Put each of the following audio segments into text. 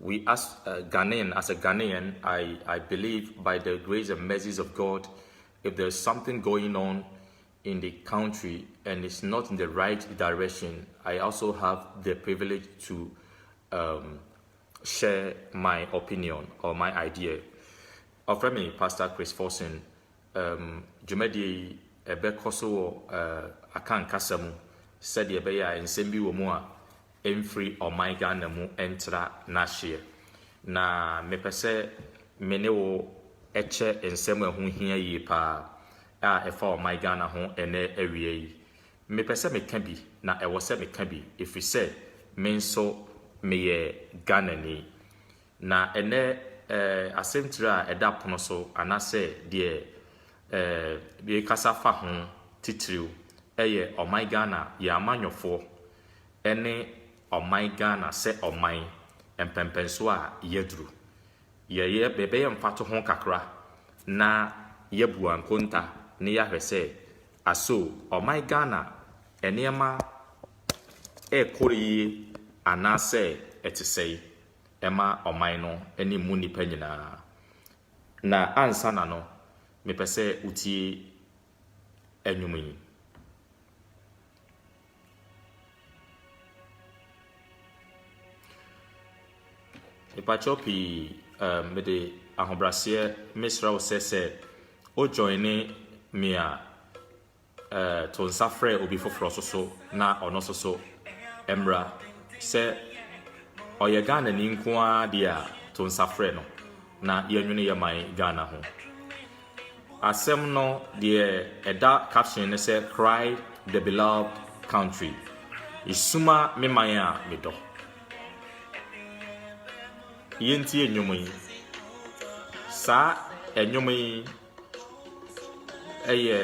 We as a Ghanaian, as a Ghanaian, I, I believe by the grace and mercies of God, if there's something going on in the country and it's not in the right direction, I also have the privilege to um, share my opinion or my idea. Offer me Pastor Chris Forson, um, dwumadie yi ɛbɛkɔ so wɔ uh, aka nkasa mu sɛdeɛ ɛbɛyɛ a nsɛm bi wɔ mu a mfiri ɔman Ghana mu ntra n'ahyeɛ. Na mepɛ sɛ me ne wo kyɛ nsɛm a ɛho hia yie pa ara a ɛfa ɔman Ghana ho ɛnnɛ awia yi. Mepɛ sɛ meka bi, na ɛwɔ sɛ meka bi, ɛfiri sɛ me nso meyɛ Ghanani. Na ɛnnɛ eh, asɛmtiri a ɛda pono so anaasɛ deɛ eh, yɛrekasa fa ho titiriw yɛ ɔman Ghana, yɛn amanyɔfoɔ ne ɔman Ghana sɛ ɔman, mpɛnpɛnsoɔ a yɛaduru. Yɛyɛ, yɛbɛyɛ mfatoho kakra na yɛabu ankonta na yɛahwɛ sɛ, aso ɔman Ghana nneɛma rekɔ yie anaasɛ ɛte sɛn? ɛma ɔman no ne mu nnipa nyinaa. Na ansa na no, mepɛ sɛ wotie nnwom yi. Mepakyɛw pii, um, mede ahobraseɛ mesrɛ wo sɛ sɛ o joine me a, To nsa frɛ obi foforɔ nso so na ɔno nso so mmra. Sɛ ɔyɛ Ghanani nko ara deɛ a, to nsa frɛ no na yɛnwene yɛ man Ghana ho. Asɛm no deɛ ɛda caption no sɛ Cry the Beloved Country. Esuma me man a medɔ. Yɛntie nnwom yi. Saa nnwom yi yɛ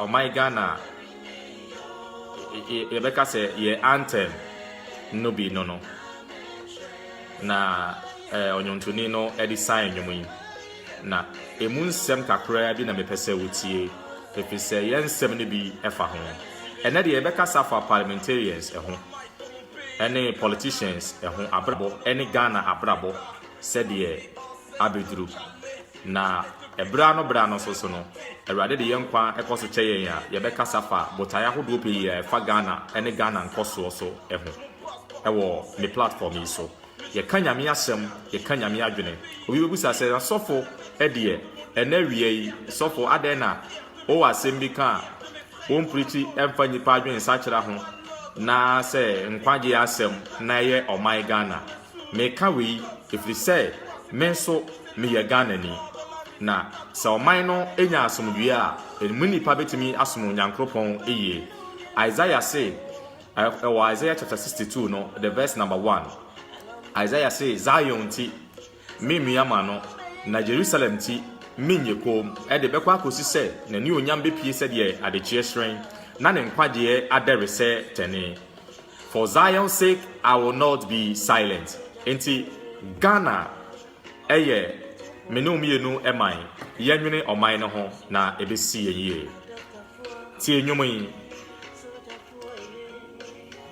ɔman Ghana yɛbɛka sɛ yɛ anthem no bi no no na ɔnwontoni no de san nnwom yi na emu nsɛm kakraa bi na mepɛ sɛ wotie efi sɛ yɛn nsɛm no bi ɛfa ho ɛnɛ deɛ yɛbɛkasa fa parliamentarians ɛho ɛne politicians ɛho abrabɔ ɛne Ghana abrabɔ sɛdeɛ abeduru. Na bere ano bere ano nso so no, Awurade de yɛn nkwa kɔ so kyɛ yɛn a, yɛbɛkasa fa botae ahodoɔ pii a ɛfa Ghana ne Ghana nkɔsoɔ so ho wɔ me platform yi so. Yɛka Nyame asɛm, yɛka Nyame adwene. Obi bɛbisa sɛ, na sɔfo deɛ, ɛnɛ awia yi, sɔfo adɛn na wowɔ asɛm bi ka a, Wompriti mfa nnipa adwene sakyera ho na sɛ nkwagyeɛ asɛm na ɛyɛ ɔman Ghana. Meka wei ɛfiri sɛ me nso meyɛ Ghanani. Na sɛ ɔman no nya asomdwoeɛ a, ɛmu nnipa bɛtumi asom Onyankropɔn yie. Isaiah se wɔ Isaiah chapter 62 no the verse number one, Isaiah se Zion nti, Merennua m'ano, na Yerusalem nti, merenyɛ komm, ɛde bɛkɔ akosi sɛ n'anuonyam bepue sɛdeɛ adekyeɛ hyerɛn, na ne nkwagyeɛ adɛre sɛ tɛne. For Zion's sake I will not be silent. Enti Ghana yɛ me ne wo mmienu man, yɛnwene ɔman no ho na ɛbɛsi yɛn yie. Tie nnwom yi.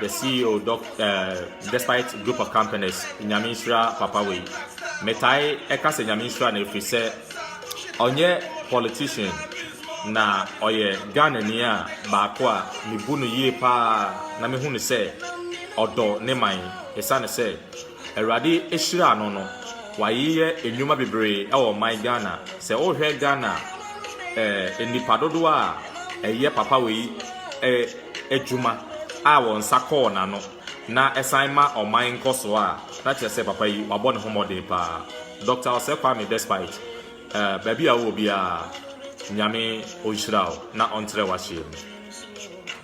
the CEO doc uh, despite group of companies nyame nhyira papa wei metae ɛka sɛ nyame nhyira na ɛfiri sɛ ɔnyɛ politician na ɔyɛ ghanani a baako a mebu no yie paa na mehu no sɛ ɔdɔ ne man ɛsiane sɛ Awurade ahyiraa no no wayeyɛ nnwuma bebree wɔ ɔman Ghana sɛ wohwɛ Ghana eh, nnipa dodoɔ a ɛyɛ papa wei eh, adwuma a wɔn nsa kɔɔ n'ano na ɛsan ma ɔman nkɔsoɔ a na kyerɛ sɛ papa yi wabɔ ne ho mmɔden paa Dr. Osei Kwame despite eh, baabi a wowɔ biara nyame ɔnhyira wo na ɔntrɛ w'ahyeɛ mu.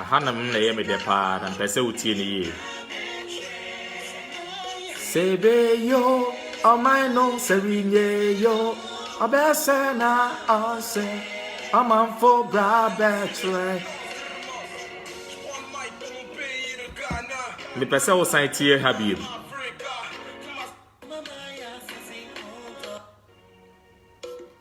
Ahanom na ɛyɛ me dɛ paa na mpɛ sɛ wotie no yie. Sɛ ebeyo ɔman no sɛ renyeyo ɔbɛsɛ na ɔnsɛ ɔmanfo bra bɛkyerɛ. Mepɛ sɛ wosan tie ha biem.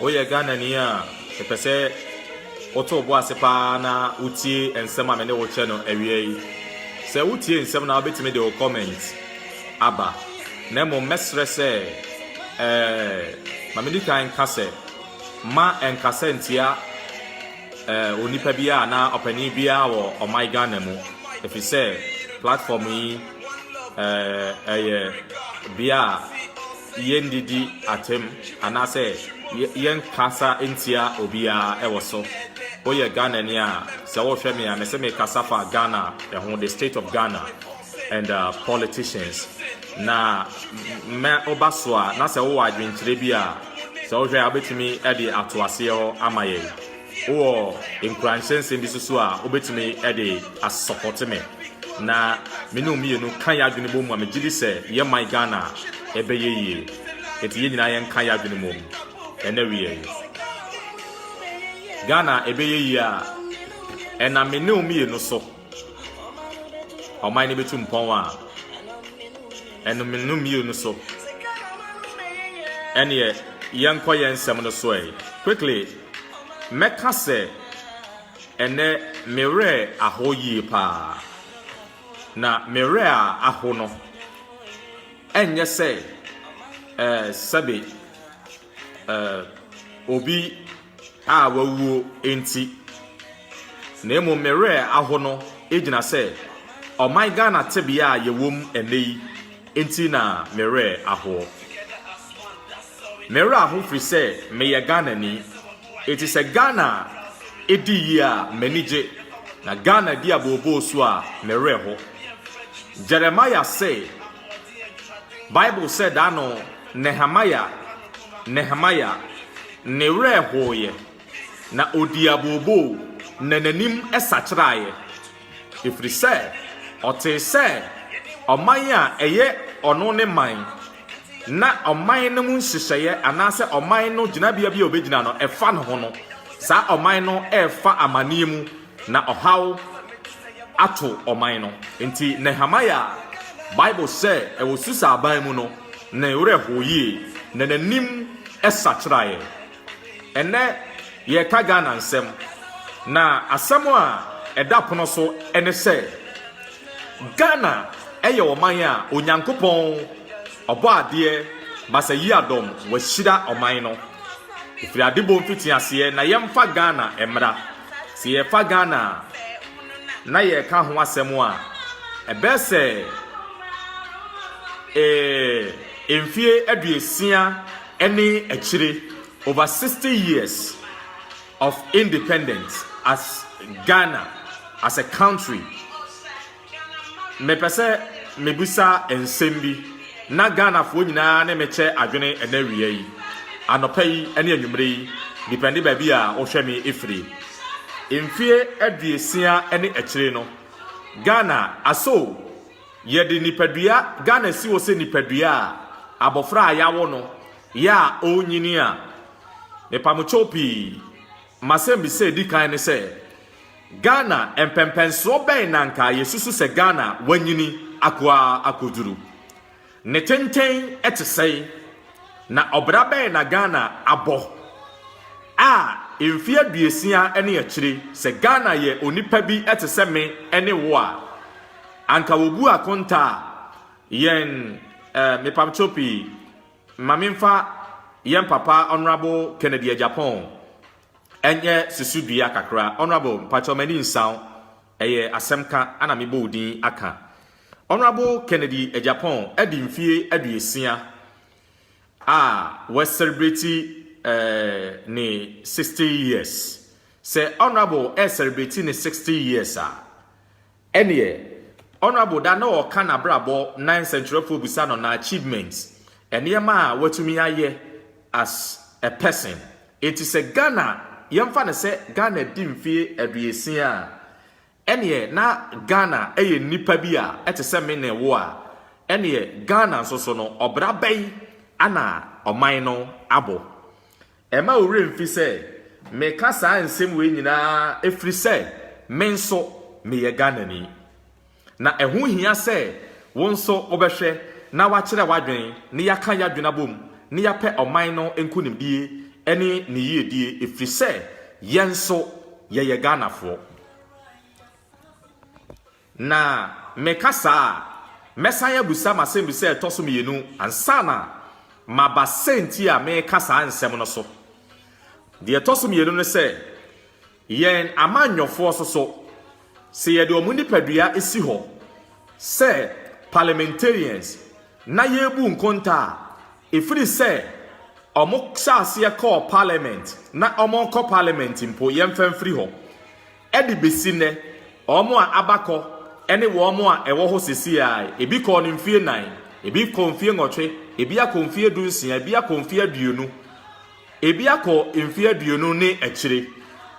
Woyɛ Ghanani a, mepɛ sɛ woto wo bo ase paa na wotie nsɛm a me ne wo kyɛ no awia yi. Sɛ wotie nsɛm na wobɛtumi de wo comment aba. Na mmom mɛsrɛ sɛ ɛɛ ma medi kan nka sɛ ma nkasa ntia ɛɛ onipa biara na ɔpanin biara wɔ ɔman Ghana mu. Ɛfiri sɛ platform yi ɛɛ ɛyɛ bea a yɛnnidi atɛm anaasɛ yɛnnkasa nntia obiara wɔ so. Woyɛ Ghanani a, sɛ wohwɛ me a, mese mekasa fa Ghana ho, the state of Ghana and politicians. Na mɛ woba so a, na sɛ wowɔ adwenkyerɛ bi a, sɛ wohwɛ a wobɛtumi de ato aseɛ hɔ ama yɛn. Wowɔ nkuranhyɛ nsɛm bi so so a wobɛtumi de asɔpɔte me na me ne wo mmienu ka yɛ adwene bɔ mu a megye di sɛ yɛ man Ghana a ɛbɛyɛ yie. Enti yɛn nyinaa yɛn ka yɛ adwene mɔ mu ɛnɛ wia yi. Ghana a ɛbɛyɛ yie a ɛna me ne wo mmienu so. Ɔman no betu mpɔn a ɛnome no mmiu no so. Ɛneɛ yɛnkɔ yɛn nsɛm no so ɛ. Quickly, mɛka sɛ ɛnɛ me werɛ aho yie paa. Na me werɛ a aho no ɛnyɛ sɛ ɛɛ sɛbe. eh, obi a wawuo nti, na mmom me werɛ aho no gyina sɛ ɔman Ghana tebea a yɛwom ɛnɛ yi nti na me werɛ ahoɔ. Me werɛ aho firi sɛ meyɛ Ghanani, eti sɛ Ghana di yie a m'ani gye, na Ghana di abooboo so a me werɛ ho. Jeremiah sɛ. Bible sɛ da no Nehemia, Nehemia, ne werɛ hooeɛ, na ɔdii abooboo, na n'anim sakyeraeɛ, ɛfiri sɛ ɔtee sɛ ɔman a ɛyɛ ɔno ne man, na ɔman no mu nhyehyɛeɛ anaasɛ ɔman no gyinabea bi a ɔbɛgyina no, ɛfa ne ho no, saa ɔman no refa amaneɛ mu Na ɔhaw ato ɔman no. Enti Nehemia a Bible sɛ ɛwɔ Susa aban mu no, ne werɛ hoo yie, na n'anim sakyeraeɛ. Ɛnnɛ yɛreka Ghana nsɛm, na asɛm a ɛda pono so ne sɛ, Ghana yɛ ɔman a Onyankopɔn Ɔbɔadeɛ Bassey Yiadom wahyira ɔman no. Ɛfiri adebɔ mfitiaseɛ, na yɛmfa Ghana mmra. Sɛ yɛrefa Ghana na yɛreka ho asɛm a, ɛbɛyɛ sɛ eh, mfie aduosia ne akyire, over 60 years of independence as Ghana, as a country. Mepɛ sɛ mebisa nsɛm bi na Ghanafoɔ nyinaa ne me kyɛ adwene ɛnɛ awia yi, anɔpa yi ne anwumerɛ yi, depɛnde baabi a wohwɛ me ɛfiri. Mfeɛ aduosia ne akyire no, Ghana asɔ o, yɛde nipadua, Ghana si hɔ sɛ nipadua a abɔfra a yɛawo no yɛ a ɔrenyini a. Mepamokyɛw pii, m'asɛmbisa a ɛdi kan ne sɛ, Ghana, Mpɛnpɛnsoɔ bɛn na anka yɛsusu sɛ Ghana wanyini akoaa akɔduru? Ne tenten te sɛn? Na ɔbra bɛn na Ghana abɔ a mfeɛ aduosia ne akyire sɛ Ghana yɛ onipa bi te sɛ me ne wo a anka wɔbu akonta a yɛn mepamkyɛw pii ma menfa yɛn papa Honourable Kennedy Agyapong Ɛnyɛ susudua kakra. Honourable, mpakyɛw m'ani nsa wo, ɛyɛ asɛm ka na mebɔ wo din aka. Honourable Kennedy Agyapong adi mfeɛ aduosia a w'asɛrebreti ne sixty years. Sɛ Honourable ɛresɛrebreti ne sixty years a, Ɛneɛ Honourable da na ɔɔka nabrabɔ na nsɛnkyerɛfoɔ bisa no na achievements, nneɛma a watumi ayɛ as a person. Enti sɛ Ghana, yɛmfa no sɛ Ghana di mfeɛ aduosia a, ɛneɛ na Ghana yɛ nnipa bi a ɛte sɛ me ne wo a, ɛneɛ Ghana nso so no ɔbra bɛn ana ɔman no abɔ? Mma wo werɛ mfi sɛ meka saa nsɛm wei nyinaa ɛfiri sɛ me nso meyɛ Ghanani. Na ɛho hia sɛ wo nso wobɛhwɛ na woakyerɛ w'adwene na yɛaka y'adwene abom na yɛapɛ ɔman no nkonimdie ne ne yiedie ɛfiri sɛ yɛn nso yɛyɛ Ghanafoɔ. Na meka saa a, mɛsan abisa m'asɛmbisa a ɛtɔ so mmienu ansa na maba sɛnti a mereka saa nsɛm no so. Deɛ ɛtɔ so mmienu ne sɛ, yɛn amanyɔfoɔ soso sɛ yɛde wɔn nipadua si hɔ sɛ parliamentarians na yɛrebu nkonta a, ɛfiri sɛ wɔhyɛ aseɛ kɔɔ parliament na wɔrekɔ parliament mpo, yɛmfa mfiri hɔ. Ɛde besi nnɛ, wɔn a aba kɔ ne wɔn a ɛwɔ hɔ seesei ara, ebi kɔɔ no mfeɛ nnan, ebi kɔɔ mfeɛ nwɔtwe, ebi akɔ mfeɛ du nsia, ebi akɔ mfeɛ aduonu, ebi akɔ mfeɛ aduonu ne akyire.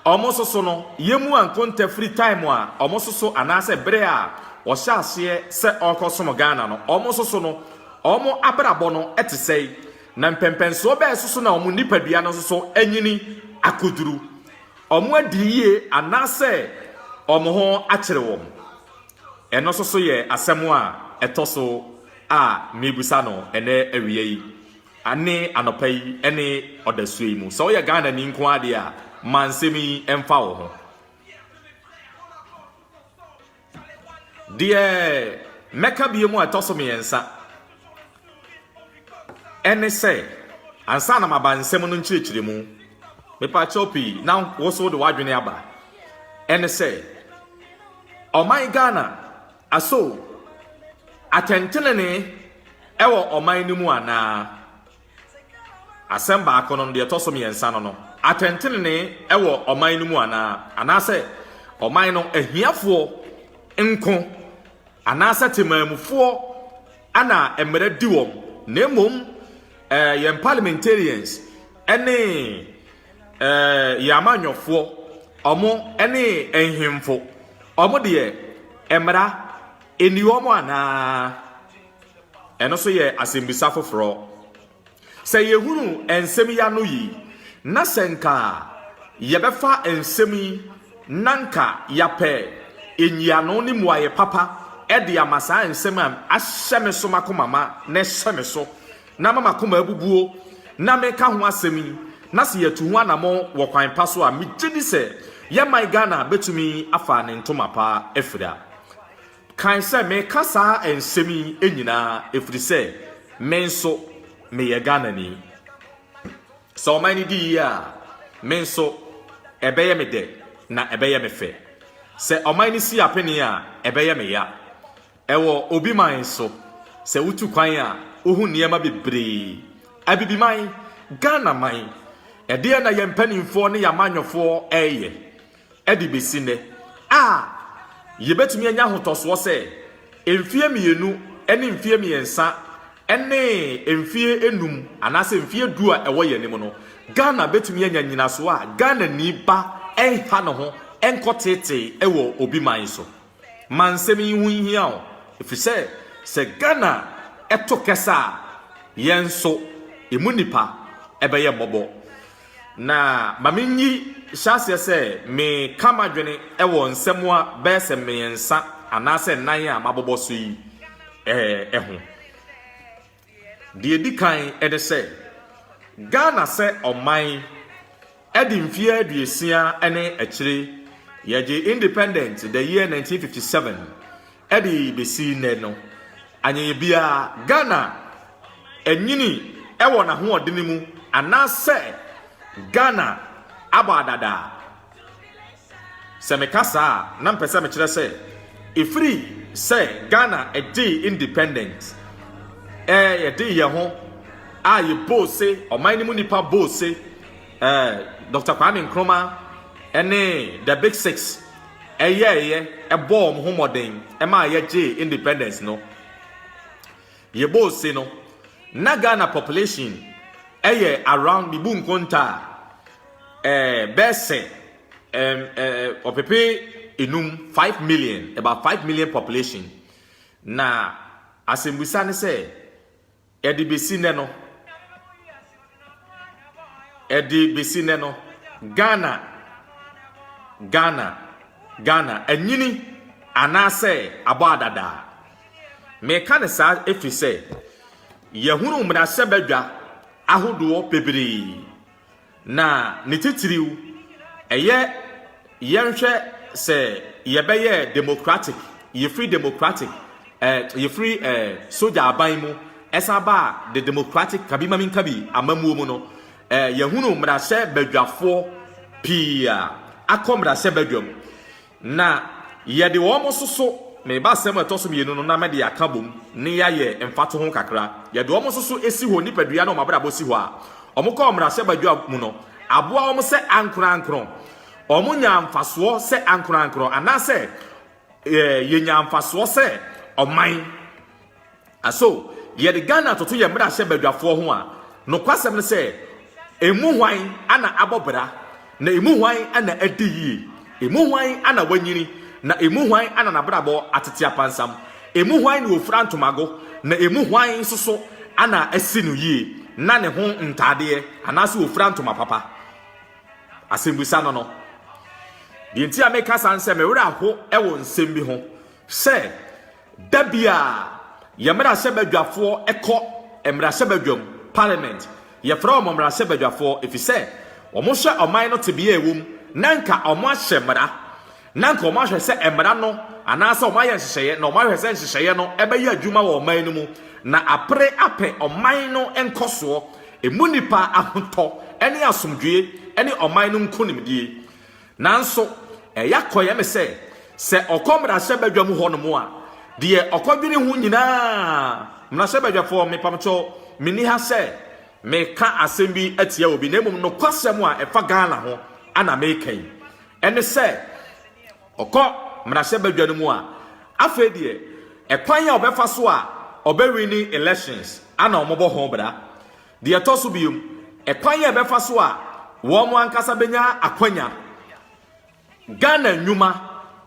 Wɔn nso so no, yɛmmu anko ntɛ firi time a wɔn so so anaasɛ berɛ a wɔhyɛ aseɛ sɛ wɔrekɔsom Ghana no, wɔn nso so no, wɔn abrabɔ no te sɛn, na mpɛmpɛnsoɔ bɛn so so na wɔn nipadua no nso so anyini akɔduru. wɔn adiri yie anaasɛ wɔn ho akyere wɔn? Ɛno nso so yɛ asɛm a ɛtɔ so a merebisa no ɛnɛ awia yi, ne anɔpa yi, ne ɔdasuo yi mu. Sɛ woyɛ Ghanani nko ara deɛ a, ma nsɛm yi mfa wo ho. Deɛ mɛka bie mu a ɛtɔ so mmiɛnsa ɛne sɛ ansa na maba nsɛm no nkyerɛkyerɛ mu mepaakyɛw pii na woso de w'adwene aba ɛne sɛ ɔman Ghana aso atɛntenene ɛwɔ ɔman no mu anaa Asɛm baako no, deɛ ɛtɔ so mmiɛnsa no no, atɛntenenee wɔ ɔman no mu anaa? Anaasɛ ɔman no ahiafoɔ nko anaasɛ temanmufoɔ na mmara di wɔn, na mmom eh, yɛn parliamentarians ne eh, yɛn amanyɔfoɔ, wɔn ne nhemfo, wɔn deɛ mmara ɛni wɔn anaa? Ɛno nso yɛ asɛmmisa foforɔ. Sɛ yɛhunu nsɛm yi ano yi, na sɛ nka yɛbɛfa nsɛm yi na nka yɛapɛ nyiano ne mmuaeɛ papa de ama saa nsɛm a ahyɛ me so m'akoma ma na ɛhyɛ me so na ama m'akoma abubuo na meka ho asɛm yi na sɛ yɛatu ho anamɔ wɔ kwan pa so a, megye di sɛ yɛn man Ghana bɛtumi afa ne ntoma pa afira. Kae sɛ, Meka saa nsɛm yi nyinaa ɛfiri sɛ me nso meyɛ Ghanani. Sɛ ɔman no di yie a, me nso ɛbɛyɛ me dɛ na ɛbɛyɛ me fɛ. Sɛ ɔman no si apenee a, ɛbɛyɛ me ya. Ɛwɔ obi man nso, sɛ wotu kwan a, wohu nneɛma bebree. Abibiman, Ghana man, ɛdeɛn na yɛn mpanimfoɔ ne yɛn amanyɔfoɔ reyɛ? de besi nnɛ a, yebetumi anya ahotɔsoɔ sɛ mfeɛ mmienu ne mfeɛ mmiɛnsa ne mfeɛ nnum anaasɛ mfeɛ du a ɛwɔ yɛn anim no, Ghana betumi anya nnyinasoɔ a Ghanani ba renha ne ho nkɔteetee wɔ obi man so. ma nsɛm yi ho nhia wo, efisɛ sɛ Ghana to kɛse a, yɛn nso emu nnipa bɛyɛ mmɔbɔ. Na ma minyi hyɛ aseɛ sɛ meka m'adwene wɔ nsɛm a bɛyɛ sɛ mmiɛnsa anaasɛ nnan a mabobɔ so yi ho. Deɛ ɛdi kan ne sɛ, Ghana sɛ ɔman de mfeɛ aduosia ne akyire, yɛgyee independent the year 1957 de bɛsi nnɛ no, anyɛyɛ biara Ghana anyini wɔ n'ahoɔdene mu anaasɛ Ghana abɔ adadaa Sɛ meka saa a, na mepɛ sɛ mekyerɛ sɛ ɛfiri sɛ Ghana gyee independent, eh, yɛdee yɛn ho a yɛbɔɔ se, ɔman no mu nnipa bɔɔ se, eh, Dr. Kwame Nkrumah ne The Big Six ɛyɛɛyɛ, ɛbɔɔ wɔn ho mmɔden ɛmaa yɛgyee independence no. Yɛbɔɔ se no, na Ghana population ɛyɛ around, mebu nkontaa, ɛɛ bɛsɛ ɛm ɛɛ ɔpepe enum five million about five million population na asɛmbusa ne sɛ ɛde besi nɛ no ɛde besi nɛ no ghana ghana ghana anyini anaasɛ abɔ adadaa meka ne saa efi sɛ yɛhunu mmarahyɛbadwa ahodoɔ bebree Na ne titiriw, ɛyɛ yɛnhwɛ sɛ yɛbɛyɛ democratic, yɛfiri democratic, eh, yɛfiri eh, soja aban mu, ɛsan ba the democratic kabi ma menka bi amammuo mu no, eh, yɛhunu mmarahyɛ badwafoɔ pii a akɔ mmarahyɛ badwam. Na yɛde wɔn nso so, meba asɛm a ɛtɔ so mmienu no na mede aka bom ne yɛayɛ mfatoho kakra, yɛde wɔn nso so si hɔ, nipadua ne wɔn abrabɔ si hɔ a, wɔkɔɔ mmarahyɛbadwa mu no aboa wɔn sɛ ankorankoro, wɔnyaa mfasoɔ sɛ ankorankoro, anaasɛ yɛnyaa mfasoɔ sɛ ɔman. Na so yɛde Ghana toto yɛn mmarahyɛ badwafoɔ ho a, nokwasɛm ne sɛ, emu hwan na abɔ bra, na emu hwan na adi yie, emu hwan na wanyini, na emu hwan na n'abrabɔ atete apansam, emu hwan na ɔfira ntomago, na emu hwan nso so na asi no yie na ne ho ntaadeɛ anaasɛ ɔfira ntoma papa? Asɛmmisa no no. Deɛ nti a meka saa ne sɛ, me werɛ aho wɔ nsɛm bi ho sɛ, Da biara, yɛn mmarahyɛbadwafoɔ kɔ mmarahyɛbadwam, parliament. Yɛfrɛ wɔn mmarahyɛbadwafoɔ efisɛ wɔhwɛ ɔman no tebea a ɛwɔ mu, na anka wɔahyɛ mmara, na anka wɔahwɛ sɛ mmara no anaasɛ wɔayɛ nhyehyɛeɛ na wɔahwɛ sɛ nhyehyɛeɛ no bɛyɛ adwuma wɔ ɔman no mu na apere apɛ ɔman no nkɔsoɔ, ɛmu nnipa ahotɔ ne asomdwoeɛ ne ɔman no nkonimdie. Nanso, ɛyɛ akɔyɛ me sɛ, sɛ ɔkɔ mmarahyɛbadwam hɔnom a, deɛ ɔkɔdwene ho nyinaa, mmarahyɛbadwafoɔ, mepamkyɛw, menni ha sɛ meka asɛm bi atia obi, na mmom nokwasɛm a ɛfa Ghana ho na meka yi, ɛne sɛ ɔkɔ mmarahyɛbadwa no mu a, afei deɛ ɛkwan a ɔbɛfa so a ɔbɛwini elections na wɔbɔ ho bra. Deɛ ɛtɔ so biom, ɛkwan a ɛbɛfa so a wɔn ankasa bɛnya akwanya, Ghana nnwuma,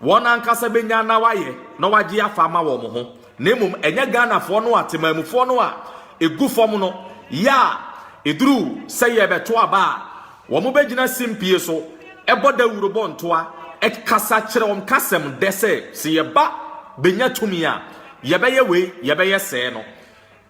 wɔn ankasa bɛnya na wɔayɛ na wɔagye afa ama wɔn ho, na mmom ɛnyɛ Ghanafoɔ no a temanmufoɔ no a ɛgu fam no yɛ a ɛduru sɛ yɛrebɛto aba a wɔbɛgyina simpie so bɔ dawuro bɔ ntoa kasa kyerɛ wɔn kasam dɛ sɛ sɛ yɛba bɛnya tumi a yɛbɛyɛ wei, yɛbɛyɛ sɛɛ no.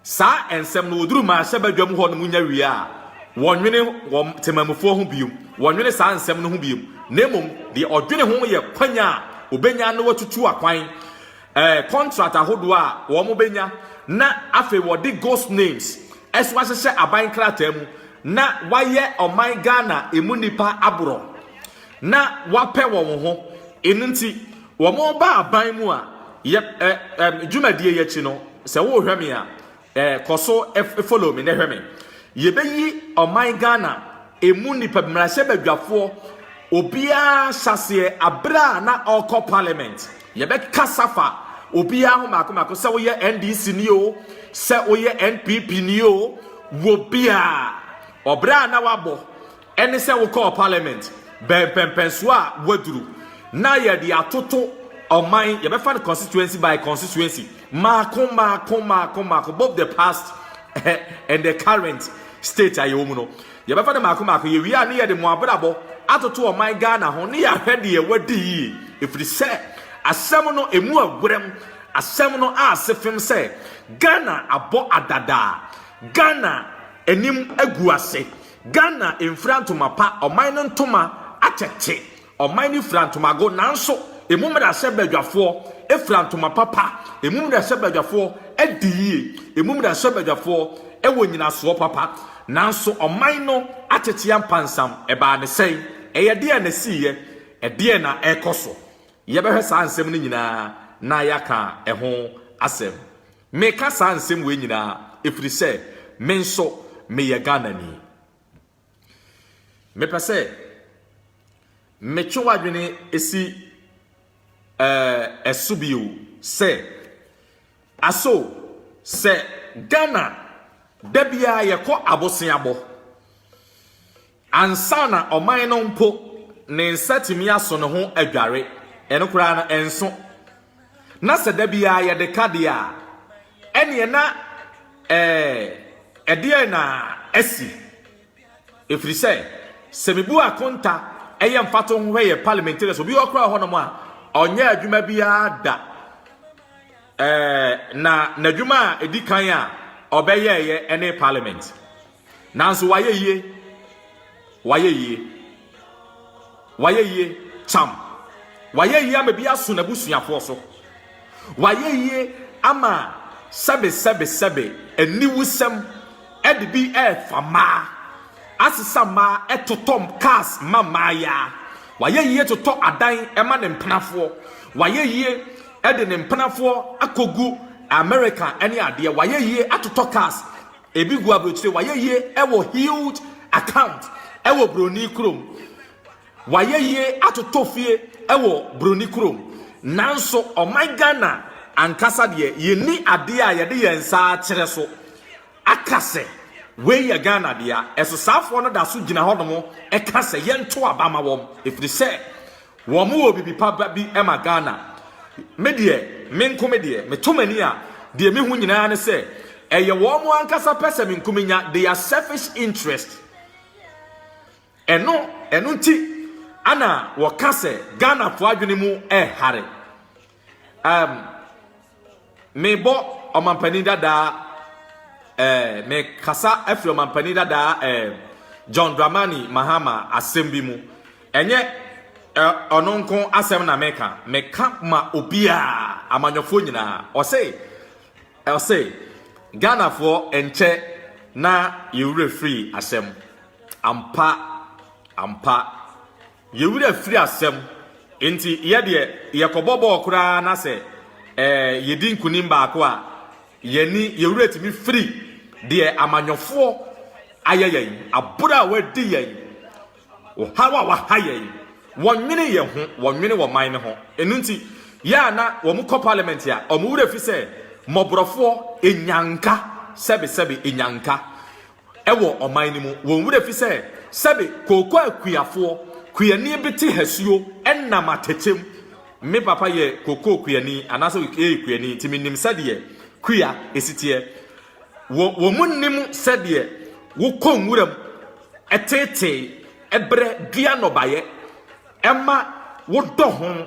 Saa nsɛm no, wɔduru mmarahyɛbadwam hɔnom nya wie a, wɔnnwene wɔn temamufoɔ ho bio, wɔnnwene saa nsɛm no ho bio, na mmom deɛ ɔdwene ho yɛ kwan a ɔbɛnya na watutu akwan, eh, contract ahodoɔ a wɔbɛnya, na afei wɔde ghost names nso ahyehyɛ aban krataa mu na wɔayɛ ɔman Ghana ɛmu nnipa aborɔ na wɔapɛ wɔn ho. Ɛno nti. Wɔba aban mu a, yɛp ɛ ɛ dwumadie yi akyi no, sɛ worehwɛ me a, ɛ kɔ so ɛ follow me na hwɛ me. Yɛbɛyi ɔman Ghana ɛmu nnipa, mmarahyɛbadwafoɔ, obiara hyɛaseɛ aberɛ a na ɔrekɔ parliament. Yɛbɛkasa fa obiara ho mmaako mmaako, sɛ woyɛ NDC ni o, sɛ woyɛ NPP ni o, wɔ biara. Ɔbrɛ a na wabɔ Ɛne sɛ wokɔɔ parliament bɛn mpɛmpɛnsoɔ a woaduru na yɛde atoto ɔman, yɛbɛfa no constituency by constituency, mmaako mmaako mmaako mmaako, both the past and the current state a yɛwɔ mu no, yɛbɛfa no mmaako mmaako, yɛwie a ne yɛde mo abrabɔ atoto ɔman Ghana ho ne yɛahwɛ deɛ wadi yie, ɛfiri sɛ asɛm no ɛmu aguram, asɛm no aase fem sɛ Ghana abɔ adadaa, Ghana anim agu ase, Ghana mfira ntoma pa, ɔman no ntoma akyɛ te, ɔman no fira ntomago nanso emu mmarahyɛbadwafoɔ fira ntoma papa, emu mmarahyɛbadwafoɔ di yie, emu mmarahyɛbadwafoɔ wɔ nyinasoɔ papa, nanso ɔman no akyekyea mpansam, ɛbaa ne sɛn? Ɛyɛ deɛn na ɛsiiɛ? Ɛdeɛn na ɛrekɔ so? Yɛbɛhwɛ saa nsɛm no nyinaa na yɛaka ho asɛm. Meka saa nsɛm wei nyinaa ɛfiri sɛ me nso meyɛ Ghanani. Mepɛ sɛ metwe w'adwene si eh, so bio sɛ aso sɛ Ghana da biara yɛkɔ aboseabɔ. Ansa na ɔman no mpo ne nsa tumi aso ne ho adware, ɛno koraa no, ɛnso. Na sɛ da biara yɛde ka deɛ a, ɛnneɛ na ɛɛ, ɛdeɛn na asi? Ɛfiri sɛ, sɛ mebu akonta yɛ mfatoho hwɛ yɛn parliamentarians, obi wɔ koraa wɔ hɔnom a, ɔnyɛɛ adwuma biara da. Ɛɛ, na n'adwuma a ɛdi kan a ɔbɛyɛeɛ ne parliament. Nanso wayɛ yie. Wayɛ yie. Wayɛ yie. Kyam. Wayɛ yie ama bi aso n'abusuafoɔ so. Wayɛ yie ama sɛbe sɛbe sɛbe aniwusɛm ɛde bi ɛrefa mmaa, asesa mmaa, ɛtotɔ cars ma mmaayaa. Wayɛ yie totɔ adan ɛma ne mpenafoɔ. Wayɛ yie ɛde ne mpenafoɔ akɔgu America ɛne adeɛ. Wayɛ yie atotɔ cars Ebi gu abrokyire. Wayɛ yie wɔ huge account wɔ broni kurom. Wayɛ yie atotɔ fie wɔ broni kurom. Nanso ɔman Ghana ankasa deɛ yɛnni adeɛ a yɛde yɛn nsa akyerɛ so aka sɛ wei yɛ Ghana dea. Ɛso saafoɔ no da so gyina hɔnom ka sɛ yɛnto aba ma wɔn ɛfiri sɛ Wɔn wɔ bibi pa ba bi ma Ghana. Me deɛ, me nko me deɛ, me to m'ani a, deɛ me hu nyinaa ne sɛ, ɛyɛ wɔn ankasa pɛ sɛ me nko me nya, their selfish interest. Ɛno, ɛno nti ɛna wɔka sɛ Ghanafoɔ adwene mu ɛhare. Um, mebɔ ɔmampanin dadaa eh, mekasa afiri ɔmampanin dadaa eh, John Dramani Mahama asɛm bi mu. Ɛnyɛ ɔno eh, nko asɛm na meka, meka ma obiara amanyɔfoɔ nyinaa. Ɔse, ɔse, Ghanafoɔ nkyɛ na yɛwura firi asɛm. Ampa, ampa. Yɛn werɛ firi asɛm nti, yɛ deɛ yɛkɔbɔ bɔɔl koraa na sɛ yɛdi nkunim baako a, yɛn ani, yɛn werɛ tumi firi deɛ amanyɔfoɔ ayɛ yɛn, aboro a wɔadi yɛn, ɔhaw a wɔaha yɛn. Wɔnnwene yɛn ho, wɔnnwene wɔn man no ho. Ɛno nti, yɛ a na wɔkɔ parliament a, wɔn werɛ fi sɛ mmɔborɔfoɔ, nnyanka, sɛbesɛbe nnyanka. wɔ ɔman no mu. Wɔn werɛ fi sɛ, sɛbe kooko a kuafoɔ kuani bi te hasuo nam atɛkyɛ mu. Me papa yɛ kooko kuani anaasɛ ɔyɛ kuani nti menim sɛdeɛ kua si teɛ. Wɔ, wɔn nnim sɛdeɛ wokɔ nwuram tetee berɛ dua nnɔbaeɛ ma wodɔ ho,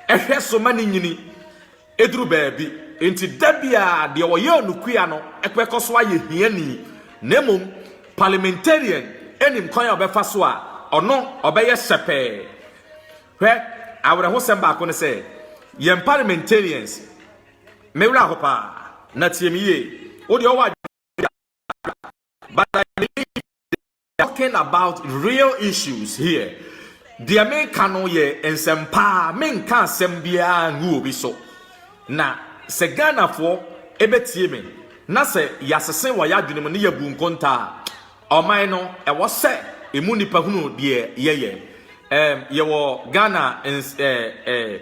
hwɛ so ma no nyini. Eduru baabi nti, da biara deɛ ɔyɛ onukua no bɛkɔ so ayɛ hiani, na mmom parliamentarian nim kwan a ɔbɛfa so a ɔno ɔbɛyɛ hyɛpɛɛ. Hwɛ, awerɛhosɛm baako ne sɛ, yɛn parliamentarians, me werɛ aho paa, na tie me yie, wo deɛ wowɔ adwene biara, but I believe that. talking about real issues here deɛ meka no yɛ nsɛmpaa menka asɛm biara ngu obi so na sɛ Ghanafoɔ ɛbɛtie me na sɛ yɛasese wɔ yɛadwene mu ne yɛbu nkonta a ɔman no ɛwɔ sɛ ɛmu nnipa hunu deɛ yɛyɛ um, yɛwɔ Ghana uh, uh,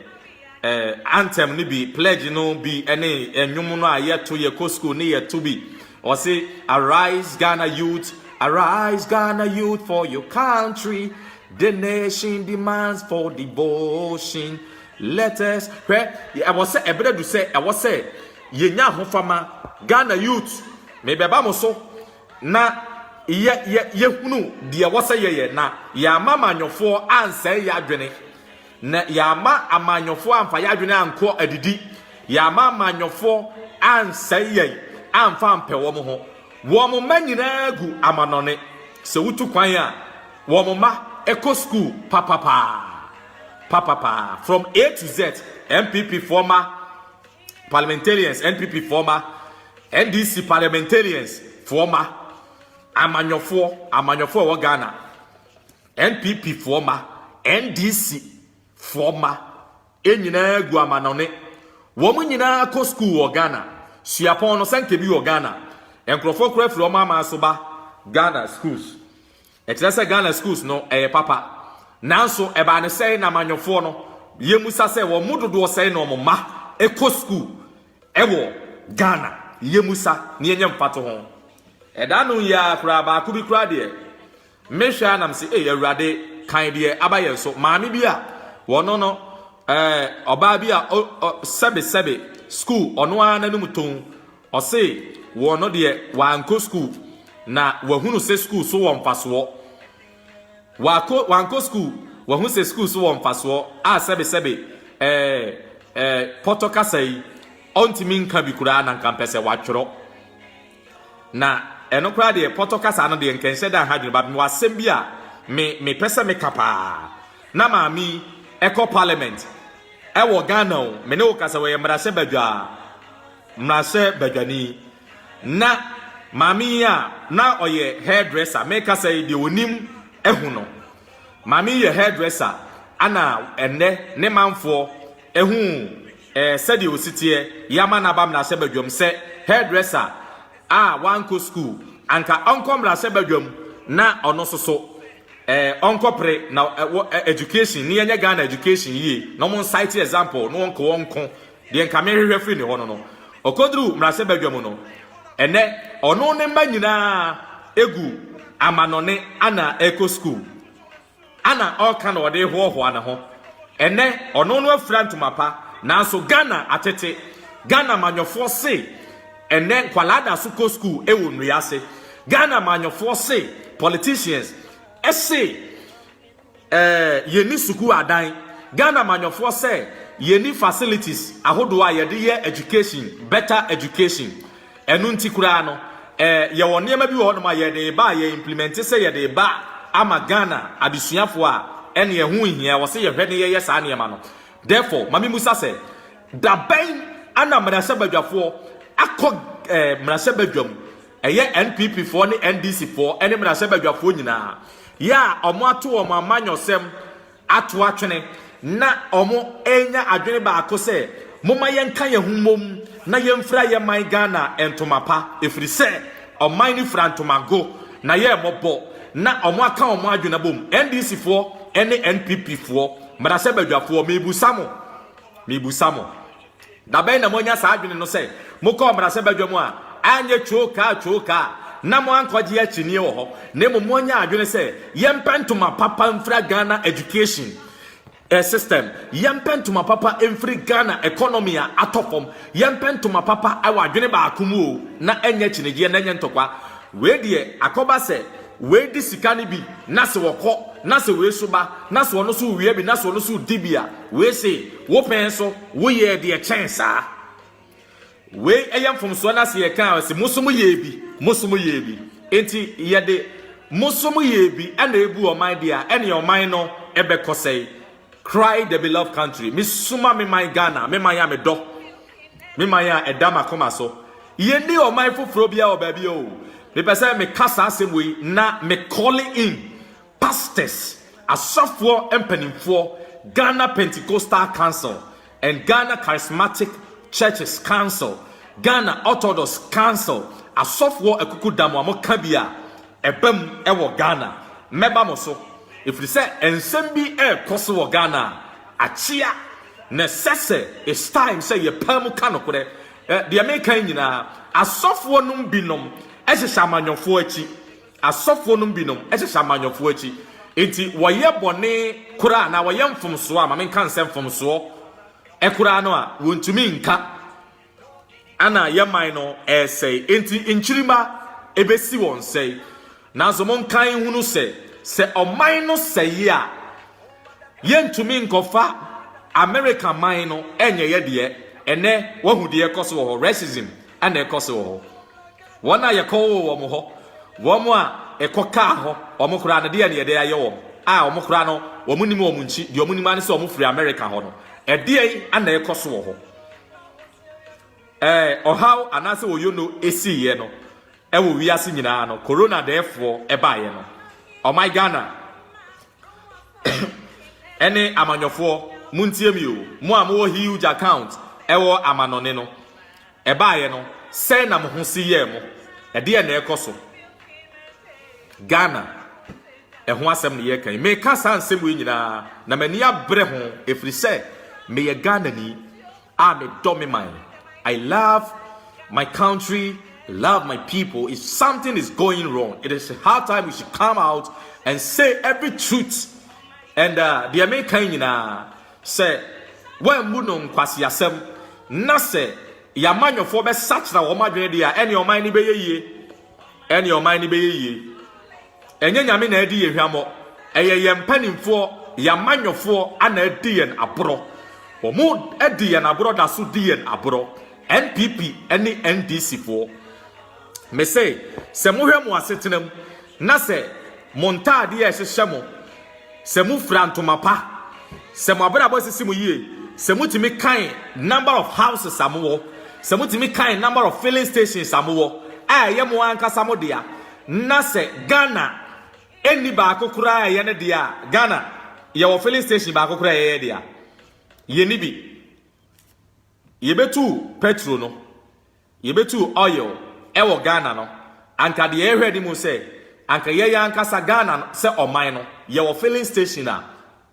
eh, anthem no bi, pledge no bi, ɛne ɛnwom no a yɛto, yɛkɔ school ne yɛto bi. Ɔse, arise Ghana youth, arise Ghana youth for your country. The nation demands for devotion. Let us, hwɛ, ɛwɔ sɛ ɛberɛ du sɛ ɛwɔ sɛ yɛnya ahofama. Ghana youth, mebɛba mo so na yɛ yɛ yɛhunu deɛ ɛwɔ sɛ yɛyɛ na yɛama manyɔfoɔ ansɛe yɛ adwene. Na yɛamma amanyɔfoɔ amfa yɛn adwene ankɔ adidi, yɛamma amanyɔfoɔ ansɛe yɛn amfa ampɛ wɔn ho. Wɔn mma nyinaa gu amannɔne. Sɛ wotu kwan a, wɔn mma kɔ sukuu papapaa, papapaa, from A to Z. NPP foɔ mma, parliamentarians, NPP foɔ mma, NDC parliamentarians foɔ mma, amanyɔfoɔ, amanyɔfoɔ a ɛwɔ Ghana. NPP foɔ mma, NDC foɔ mma nyinaa gu amanɔne. Wɔn nyinaa kɔ sukuu wɔ Ghana. Suapɔn no sɛnka bi wɔ Ghana. Nkurɔfoɔ koraa firi wɔn aman so ba Ghana schools. Ɛkyerɛ sɛ Ghana schools no ɛyɛ papa. Nanso ɛbaa no sɛn na amanyɔfoɔ no yɛmmisa sɛ wɔn mu dodoɔ sɛn na wɔn mma kɔ sukuu wɔ Ghana? Yɛmmisa na yɛnyɛ mfatoho. Ɛda no yi ara koraa baako bi koraa deɛ Me hwɛ a na me se ei awurade kan deɛ aba yɛn so maame bi a wɔno no eh, ɔbaa bi a o, o, sɛbe sɛbe school ɔno ara n'anum tɔn ɔse wɔno deɛ wankɔ school na wahunu se school so wɔ mfasoɔ wakɔ wankɔ school wahu se school so wɔ mfasoɔ a sɛbe sɛbe eh, eh, pɔtɔ kasa yi ɔntumi nka bi koraa na nka mpɛ sɛ watwerɛ Na ɛno koraa deɛ, Pɔtɔ kasa no deɛ nka nhyɛ da ha dwene, but mewɔ asɛm bi a me mepɛ sɛ meka paa. Na maame yi ɛkɔ parliament ɛwɔ Ghana o, me ne wo kasa wɔyɛ mmarahyɛ badwaa, mmarahyɛ badwani. Na maame yi a na ɔyɛ hairdresser, mekasa yi deɛ onim ahu no. Maame yi yɛ hairdresser ana ɛnnɛ ne manfoɔ. Ehu eh sɛdeɛ osi teɛ Yama naba mmrahyɛ badwam sɛ hairdresser a wankɔ school Anka ɔnkɔ mmrahyɛ badwam na ɔno nso so eh ɔnkɔ pre Na wɔ eh education ne yɛnyɛ Ghana education yie Na ɔmo nsite example na ɔnko ɔnko Deɛ nka me hwehwɛ firi ne hɔ no no Ɔkɔduru mmrahyɛ badwam no Ɛnɛ ɔno ne mma nyinaa egu amanɔne Ana ɛkɔ school Ana ɔreka na ɔde rehoahoa ne ho. Ɛnɛ ɔno no afira ntoma pa nanso Ghana atete. Ghana manyɔfoɔ se ɛnɛ nkwadaa da so kɔ school wɔ nnua ase. Ghana manyɔfoɔ se politicians se eh, yɛni sukuu adan. Ghana manyɔfoɔ sɛ yɛni facilities ahodoɔ a yɛde yɛ education, better education. Ɛno nti koraa no, eh, yɛwɔ nneɛma bi wɔ hɔnom a yɛde reba a yɛ implemɛnte sɛ yɛde reba ama Ghana adesuafoɔ a, ɛne ɛho nhia, ɛwɔ sɛ yɛhwɛ ne yɛyɛ saa nneɛma no. Therefore, ma memmusa sɛ, da bɛn ana mmarahyɛbadwafoɔ akɔ eh, mmarahyɛbadwam, ɛyɛ NPP foɔ ne NDC foɔ ne mmarahyɛbadwafoɔ nyinaa, yɛ a wɔato wɔn amanyɔsɛm, ato atwene na wɔanya adwene baako sɛ momma yɛnka yɛn ho mmom na yɛmfira yɛn man Ghana ntoma pa ɛfiri sɛ ɔman no fira ntomago na yɛ mmɔbɔ na wɔaka wɔn adwene abom NDC foɔ ne NPP foɔ mmarahyɛbadwafoɔ mebusa mo mebusa mo Da bɛn na moanya saa adwene no sɛ mokɔɔ mmarahyɛbadwa mu a anyɛ twookaa twookaa na moankɔgye akyinnye wɔ hɔ na mmom moanya adwene sɛ yɛmpɛ ntoma papa mfira Ghana education system, yɛmpɛ ntoma papa mfiri Ghana economy a atɔ fam, yɛmpɛ ntoma papa wɔ adwene baako mu o na ɛnyɛ akyinnyegyeɛ na ɛnyɛ ntɔkwa. Wei deɛ akɔba sɛ wei di sika no bi na se ɔkɔ na sɛ wei nso ba na sɛ ɔno nso wia bi na sɛ ɔno nso di bi a wei se Wo pɛn nso, woyɛɛ deɛ ɛkyɛn saa. Wei yɛ mfomsoɔ no ase yɛka a, ɛse mo nso moyɛɛ bi, mo nso moyɛɛ bi. Enti yɛde mo nso moyɛɛ bi na ɛbu ɔman deɛ a, ɛneɛ ɔman no bɛkɔ sɛe. Cry the beloved country. Mesuma me man Ghana, me man a medɔ, me man a ɛda m'akoma so. Yɛnni ɔman foforɔ biara wɔ baabiara o. Mepɛ sɛ meka saa asɛm wei na me calling in Pastors, Asɔfoɔ Mpanimfoɔ, Ghana Pentecostal Council and Ghana Charismatic Churches Council, Ghana Orthodox Council, Asɔfoɔ Akukudam a moka bi a ɛba mu wɔ Ghana. Mɛba mo so, ɛfiri sɛ nsɛm bi rekɔ so wɔ Ghana a akyea, na ɛsɛ sɛ it's time sɛ yɛpae mu ka nokorɛ. Deɛ meka yi nyinaa, asɔfoɔ nom binom hyehyɛ amanyɔfoɔ akyi, Asɔfoɔ nom binom hyehyɛ amanyɔfoɔ akyi, enti wɔyɛ bɔne koraa anaa wɔyɛ mfomsoɔ a, ma menka no sɛ mfomsoɔ koraa no a, wɔntumi nka, ɛna yɛn man no resɛe, enti nkyirimma bɛsi wɔn sɛe. Nanso monkae nhunu sɛ, sɛ ɔman no sɛe a, yɛntumi nkɔfa Amerika man no nyɛ yɛ deɛ. Ɛnnɛ, woahu deɛ ɛrekɔ so wɔ hɔ, racism na ɛrekɔ so wɔ hɔ. Wɔn a yɛkɔwoo wɔn hɔ, wɔn a ɛkɔkaa hɔ, wɔn koraa no, deɛn na yɛde ayɛ wɔn? A, wɔn koraa no, wɔnnim wɔn nkyi, deɛ wɔnim ara ne sɛ wɔfiri Amerika hɔ no. Ɛdeɛn na ɛrekɔ so wɔ hɔ? Ɛɛ, ɔhaw anaasɛ oyono siiɛ no wɔ wiase nyinaa no, Corona dɛɛfoɔ baeɛ no, ɔman Ghana ɛne amanyɔfoɔ montie me o mo a mowɔ huge account ɛwɔ amanɔne no ɛbaeɛ no sɛn na mo ho si yɛɛ mo ɛdeɛ na ɛkɔ so Ghana ɛho asɛm ne yɛka yi meka saa nsɛm yi nyinaa na m'ani abrɛ ho ɛfiri sɛ meyɛ Ghana ni Ah me dɔ me man I love my country I love my people if something is going wrong it is high time we should come out and say every truth and uh, deɛ meka nyinaa sɛ wɔammu no nkwaseasɛm na sɛ yɛamanyɔfoɔ bɛsakyera wɔn adwene deɛ a ɛne ɔman no bɛyɛ yie ɛne ɔman no bɛyɛ yie Ɛnyɛ Nyame na adi yɛ hwammɔ, ɛyɛ yɛn mpanimfoɔ, yɛn amanyɔfoɔ na adi yɛn aborɔ. Wɔn di yɛn aborɔ da so di yɛn aborɔ, NPP ne NDC foɔ. Me se, sɛ mohwɛ mo asetena mu na sɛ mo ntaadeɛ a ɛhyehyɛ mo, sɛ mo fira ntoma pa, sɛ mo abrabɔ sisi mo yie, sɛ mo tumi kan number of houses a mo wɔ, sɛ mo tumi kan number of filling stations a mo wɔ, a ɛyɛ mo ankasa mo dea, Na sɛ Ghana nni baako koraa a ɛyɛ ne dea a, Ghana, yɛwɔ filling station baako koraa a ɛyɛ yɛn dea? Yɛnni bi. Yɛbɛtuu pɛtro no, yɛbɛtuu oil wɔ Ghana no, anka deɛ yɛhwɛ anim sɛ, anka yɛn yɛn ankasa Ghana no, sɛ ɔman no, yɛwɔ filling station a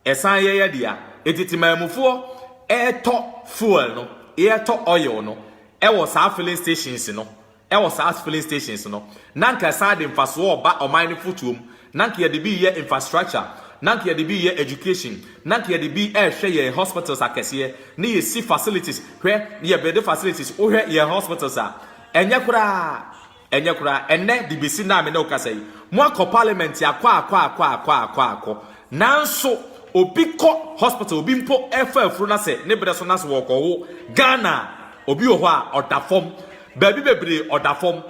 ɛsan yɛ yɛn dea. Enti Temanmufoɔ retɔ fuel no, yɛretɔ oil no wɔ saa filling stations no Wɔ saa filling stations no, na anka ɛsan de mfasoɔ reba ɔman no fotoɔ mu. Na anka yɛde bi reyɛ infrastructure, na anka yɛde bi reyɛ education, na anka yɛde bi rehwɛ yɛn hospitals akɛseɛ, na yɛsi facilities, hwɛ, na yɛbuilde facilities. Wohwɛ yɛn hospitals a, ɛnyɛ koraa, ɛnyɛ koraa. Ɛnnɛ, de bɛsi nnɛ a me ne wo kasa yi, moakɔ parliament akɔ akɔ akɔ akɔ akɔ akɔ, nanso obi kɔ hospital, obi mpo refa afuro na sɛ ne berɛ so na sɛ wɔrekɔwo Ghana a, obi wɔ hɔ a, ɔda fam. Baabi bebree ɔda fam.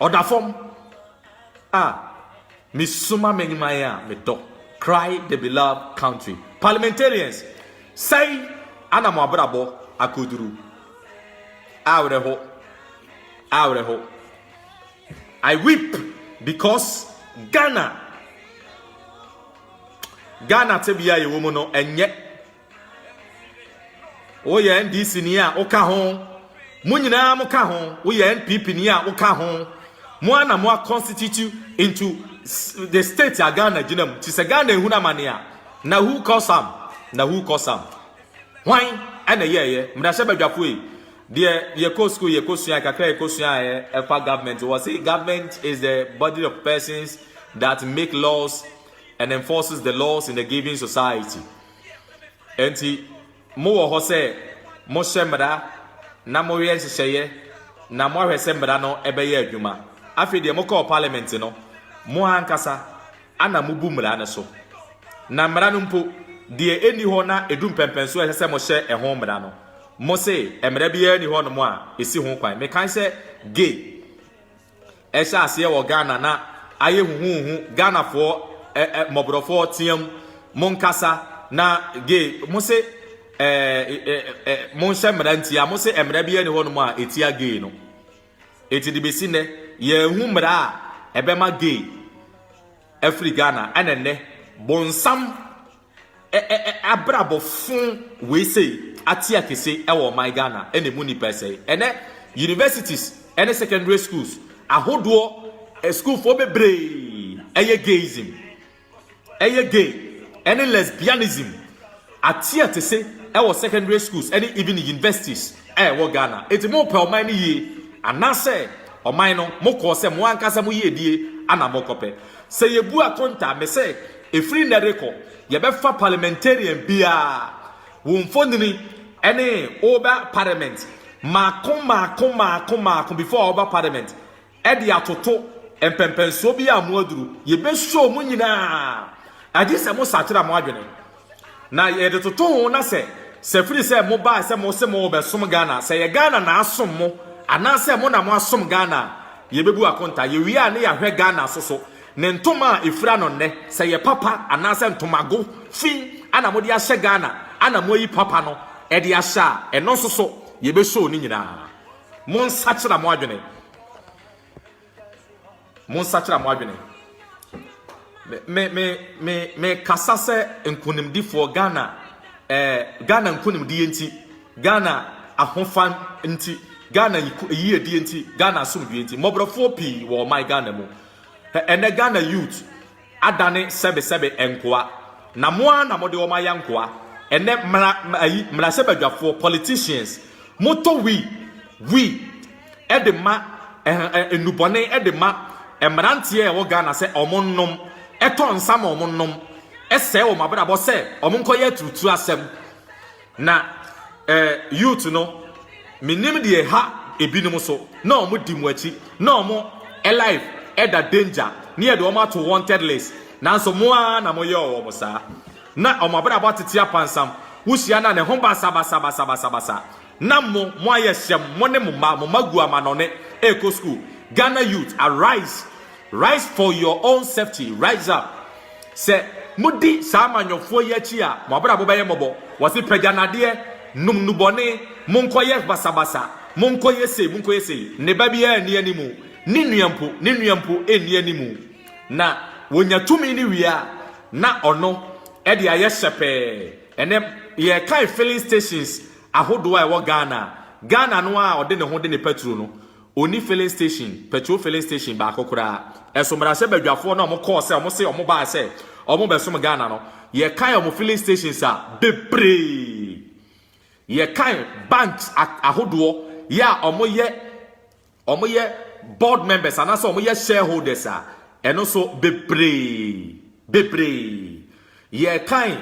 Ɔda fam. Ah, mesuma m'animan a medɔ. Cry the beloved country. Parliamentarians, sɛn ana mo abrabɔ akoduru? Awerɛho. Awerɛho. I weep because Ghana Ghana tebea yɛwɔ mu no ɛnyɛ woyɛ ndc ni a woka ho mo nyinaa mo ka ho woyɛ npp ni a woka ho mo ana mo a constitute into the state a ghana gyina mu ti sɛ ghana ehunu amane a na who cause am na who cause am hwan ɛna yɛɛyɛ mmarahyɛ badwafo yi deɛ yɛkɔ school yɛkɔ sua kakra yɛkɔ sua a ɛfa government wɔ se government is the body of persons that make laws and enforces the laws in the given society Enti mowɔ hɔ sɛ mohyɛ mmara na moyɛ nhyehyɛeɛ na moahwɛ sɛ mmara no bɛyɛ adwuma. Afei deɛ mokɔɔ Parliament no, mo ankasa na mobu mmara no so. Na mmara no mpo, deɛ ɛnni hɔ na ɛdu mpɛnpɛn so a ɛsɛ sɛ mohyɛ ɛho mmara no, mose mmara biara nni hɔnom a ɛsi ho kwan. Mekae sɛ gay Ɛhyɛ aseɛ wɔ Ghana na ayɛ huhuuhu Ghanafoɔ eh, eh, mmɔborɔfoɔ team mo nkasa na gay mo se eh, eh, eh, mo nhyɛ mmara ntia mo se mmara bi ɛne hɔnom a ɛtia gay no ɛti de bɛsi nnɛ yɛahu mmara a ɛbɛma gay afiri Ghana ɛna nnɛ bonsam Ɛ ɛ ɛ abrabɔ fon wei sei ate akese wɔ ɔman Ghana na ɛmu nnipa ɛsɛe. Ɛnɛ universities ne secondary schools ahodoɔ sukuufoɔ bebree ɛyɛ gayism, ɛyɛ gay ɛne lesbianism ate akese wɔ secondary schools ɛne even universities a ɛwɔ Ghana. Eti mo pɛ ɔman no yie anaasɛ ɔman no mo kɔɔ sɛ mo ankasa mo yiedie ana mo kɔpɛ. Sɛ yebu akonta a, mise, ɛfiri nnɛ rekɔ, yɛbɛfa parliamentarian biara, wo mfonini ne woba parliament, mmaako mmaako mmaako mmaako before woba parliament, de atoto mpɛmpɛnsoɔ biara a moaduru, yɛbɛsuo mo nyinaa, agye sɛ mosakyera mo adwene. Na yɛde toto ho na sɛ sɛ firi sɛ mo baa sɛ mo se mo bɛ som Ghana sɛ yɛ Ghana na asom mo anaa sɛ mo na mo asom Ghana a yɛ bɛ bu akonta yɛ wie a ne yɛ ahwɛ Ghana so so ne ntoma a efira no nnɛ sɛ yɛ papa anaa sɛ ntomago fi ana mo de ahyɛ Ghana ana mo ayi papa no ɛde ahyɛ a ɛno nso so yɛ bɛ show ne nyinaa mo nsakyera mo adwene. Monsakyera mo adwene. Me me me me kasa sɛ nkonimdifoɔ Ghana eh, Ghana nkonimdie nti Ghana ahofa nti Ghana yiedie nti Ghana asomdwie nti mmɔborɔfoɔ pii wɔ ɔman Ghana mu. Ɛnɛ Ghana youth adane sɛbesɛbe nkoa, na mo ara na mode wɔn ayɛ nkoa ɛnnɛ, mmra, ayi, mmarahyɛbadwafoɔ, politicians, motɔ wii, wii, ɛde ma, ɛh, ɛh, nnubɔne ɛde ma mmeranteɛ a ɛwɔ Ghana sɛ wɔn nnom, ɛtɔ nsa ma wɔn nnom, ɛsɛe wɔn abrabɔ sɛ wɔn nkɔyɛ aturutuo asɛm. Na eh, youth no, menim deɛ ɛha ebinom so, na wɔn di mo akyi, na wɔn eh, life ɛda danger, na yɛde wɔn ato wanted list, nanso mo ara na mo yɛɔ wɔn saa. Na wɔn abrabɔ atete apansam, wo hyia no a ne ho basa basa basa basa basa, na mo, mo ayɛ hyɛm, mo ne mo mma, mo mma gu amanɔne ɛrekɔ school, Ghana youth arise, Rise for your own safety, rise up. Sɛ modi saa amanyɔfoɔ yi akyi a, mo abrabɔ bɛyɛ mmɔbɔ. Wɔse pagya nadeɛ, nom nnubɔne, monkɔyɛ basabasa, monkɔyɛ sei, monkɔyɛ sei. Ne ba biara nni animu, ne nua mpo, ne nua mpo nni animu. Na wɔnya tumi no wie a, na ɔno de ayɛ hyɛpɛɛ. Ɛnɛ yɛrekan filling stations ahodoɔ a ɛwɔ Ghana. Ghana no ara a ɔde ne ho de ne paturo no. Onni filling station, petrol filling station, baako koraa. Ɛso mmarahyɛ badwafoɔ no a wɔn kɔɔ sɛ wɔn se wɔn baa sɛ wɔn bɛsom Ghana no, yɛkae wɔn filling stations a bebree. Yɛkae banks a ahodoɔ yɛ a wɔn yɛ wɔn yɛ board members anaasɛ wɔn yɛ shareholders a ɛno nso bebree bebree. Yɛrekan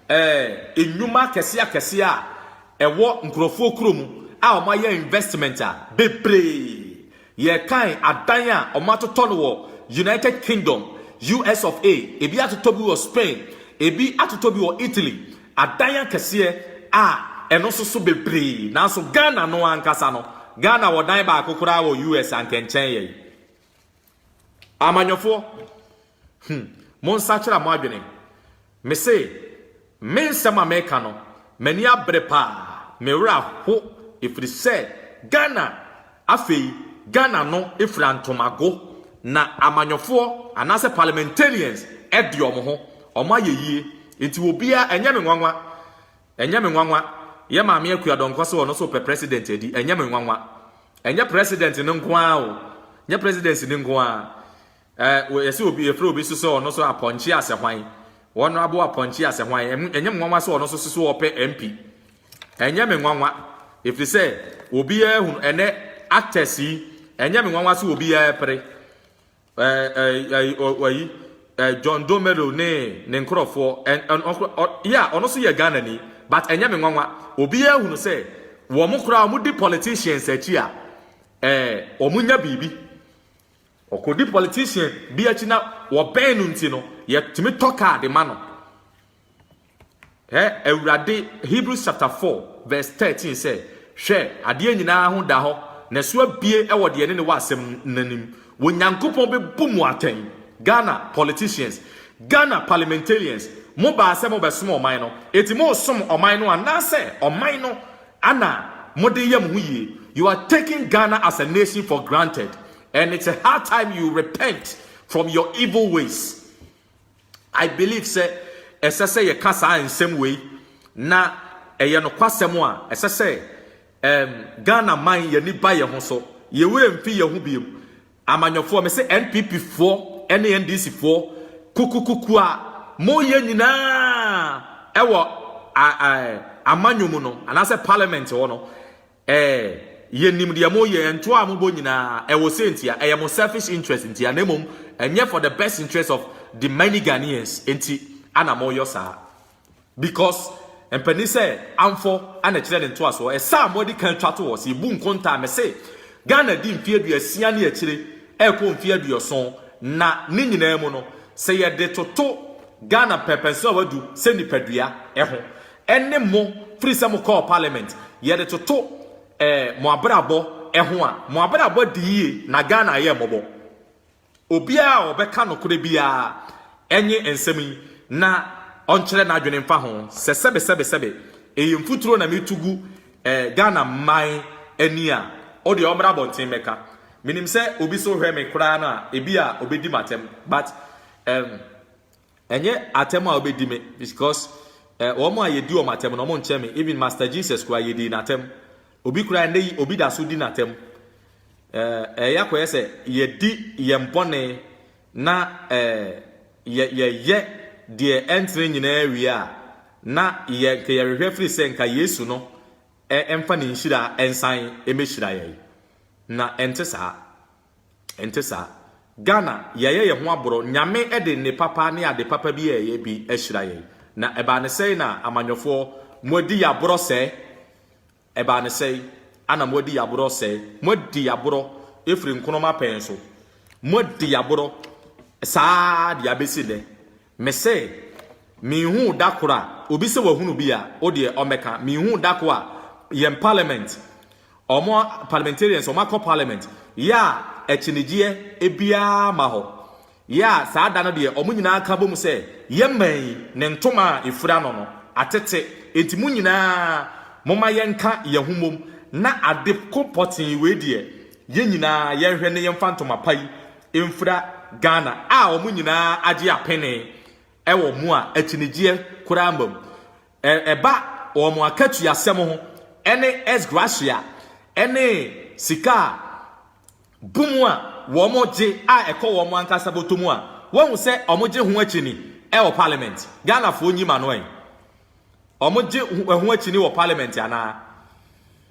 eh, nnwuma akɛseɛ akɛseɛ a ɛwɔ nkorɔfoɔ kuro mu a wɔayɛ investment a, bebree. Yɛrekan adan a wɔatotɔ no wɔ United Kingdom, US of A, ebi atotɔ bi wɔ Spain, ebi atotɔ bi wɔ Italy, adan akɛseɛ a ɛno nso so bebree. Nanso Ghana no ankasa no, Ghana wɔ dan baako koraa wɔ US a anka ɛnkyɛn yɛn. Amanyɔfoɔ, hmm, monsakyera mo adwene. Mese, me nsɛm a meka no, m'ani abere paa, me werɛ aho ɛfiri sɛ Ghana afei, Ghana no fira ntomago, na amanyɔfoɔ anaasɛ parliamentarians de wɔn ho, wɔayɛ yie, nti obiara, ɛnyɛ me nwanwa, Ɛnyɛ me nwanwa, yɛ Maame Akua Donkor sɛ ɔno nso repɛ President adi, ɛnyɛ me nwanwa. Ɛnyɛ President no nko ara o, ɛnyɛ Presidency no nko ara. Ɛɛ, yɛse obi, yɛfrɛ obi nso sɛ ɔno nso Apɔnkye Asehwan, Honourable Apɔnkye Asehwan, ɛnyɛ me nwanwa sɛ ɔno nso se so ɔpɛ MP. Ɛnyɛ me nwanwa, ɛfiri sɛ obiara hunu, ɛnnɛ actors yi, ɛnyɛ me nwanwa sɛ obiara repere. Ayi John Domelo ne ne nkorɔfoɔ yeah ɔno nso yɛ Ghana ni but ɛnyɛ me nwanwa obiara hunu sɛ wɔn koraa wɔn di politicians akyi a ɛɛ wɔn nya biribi ɔkɔdi politician bi akyi na wɔbɛn no nti no yɛtumi tɔ kaa de ma no. Ɛ Awurade, Hebrews chapter four verse thirteen sɛ, Hwɛ, adeɛ nyina ara ho da hɔ, n'aso abue wɔ deɛ ɛne ne wɔ asɛm no anim. Onyankopɔn bɛbu mo atɛn. Ghana politicians, Ghana parliamentarians, mo baa sɛ mo bɛsom ɔman no, enti mo resom ɔman no anaasɛ ɔman no na mo de yɛ mo ho yie? You are taking Ghana as a nation for granted and it's a high time you repent from your evil ways. I believe sɛ ɛsɛ sɛ yɛka saa nsɛm wei na ɛyɛ nokwasɛm a ɛsɛ sɛ um, Ghana man yɛni ba yɛn ho so, yɛn werɛ mfi yɛn ho biom. Amanyɔfoɔ, me se NPP foɔ ɛne NDC foɔ kukukuku a moyɛ nyinaa ɛwɔ a, a, amanyɔ mu no anaasɛ parliament hɔ no, Eh, yɛnim deɛ moyɛ, ntoɔ a mobɔ nyinaa, ɛwɔ sei ntia, ɛyɛ mo selfish interest ntia, na mmom ɛnyɛ for the best interest of the many Ghanaians nti ana moyɔ saa. Because mpanin sɛ amfɔ ana ɛkyerɛ ne ntoasoɔ, ɛsɛ a moadi kan twa to hɔ, sɛ yɛbu nkontaa, mese Ghana di mfeɛ aduasia ne akyire ɛrekɔ mfeɛ aduɔson, na ne nyinaa mu no, sɛ yɛde toto Ghana mpɛnpɛnsoɔ a wadu sɛ nipadua ho, ɛne mo firi sɛ mo kɔɔ parliament yɛde toto eh, mo abrabɔ ɛho a mo abrabɔ adi yie na Ghana ayɛ mmɔbɔ obiara a ɔbɛka nokorɛ biara ɛnye nsɛm yi na ɔnkyerɛ n'adwene mfa ho sɛ sɛbe sɛbe sɛbe ɛyɛ mfuturo na metu gu eh, Ghana man ani a ɔdeɛ ɔmmra abɔnten mɛka menim sɛ obi so hwɛ me koraa no a ebi a ɔbɛdi m'atɛm but um, Ɛnyɛ atɛm a wobedi me because eh, wɔn a yedi wɔn atɛm no wɔn nkyɛn me. Even Master Jesus koraa yedii n'atɛm. Obi koraa ɛnɛ yi obi da so di n'atɛm. Eh, ɛyɛ akɔyɛ sɛ yɛdi yɛn bɔne na eh, yɛ yɛyɛ deɛ ɛntene nyinaa wie a na yɛ nka yɛhwehwɛ firi sɛ nka Yesu no eh, ɛmfa ne nhyira ɛnsan ɛmɛhyira yɛn. Na ɛnte saa. Ɛnte saa. Ghana, yɛayɛ yɛn ho aborɔ. Nyame de nne papa ne ade papa bi a ɛyɛ bi ahyira yɛn. Na ɛbaa no sɛn na amanyɔfoɔ, moadi yɛn aborɔ sɛɛ? Ɛbaa no sɛn na moadi yɛn aborɔ sɛɛ? Moadi yɛn aborɔ firi nkonom apɛn so. Moadi yɛn aborɔ saa ara de abɛsi nnɛ. Mese, menhuu da koro a, obi sɛ wahunu bi a, wo deɛ ɔmmɛka. Menhuu da koro a, yɛn parliament, wɔn parliamentarians, wɔn akɔ parliament, yɛ a akyinigyeɛ biara mma hɔ. Yɛ a saa da no deɛ, wɔn nyinaa ka bom sɛ, yɛn man yi, ne ntoma a ɛfura no no, atete. Enti mo nyinaa, momma yɛnka yɛn ho mmom na ade ko pɔtee wei deɛ, yɛn nyinaa yɛnhwɛ na yɛmfa ntoma pa yi mfira Ghana a wɔn nyinaa agye apene wɔ mu a akyinigyeɛ koraa mma mu. Ɛba wɔn akatuasɛm ho ne ex gratia ne sika a bu mu a wɔgye a ɛkɔ wɔn ankasa bɔtɔ mu a, woahu sɛ wɔgye ho akyini wɔ parliament? Ghanafoɔ nyi ma no ɛ. Wɔgye ho akyini wɔ parliament anaa?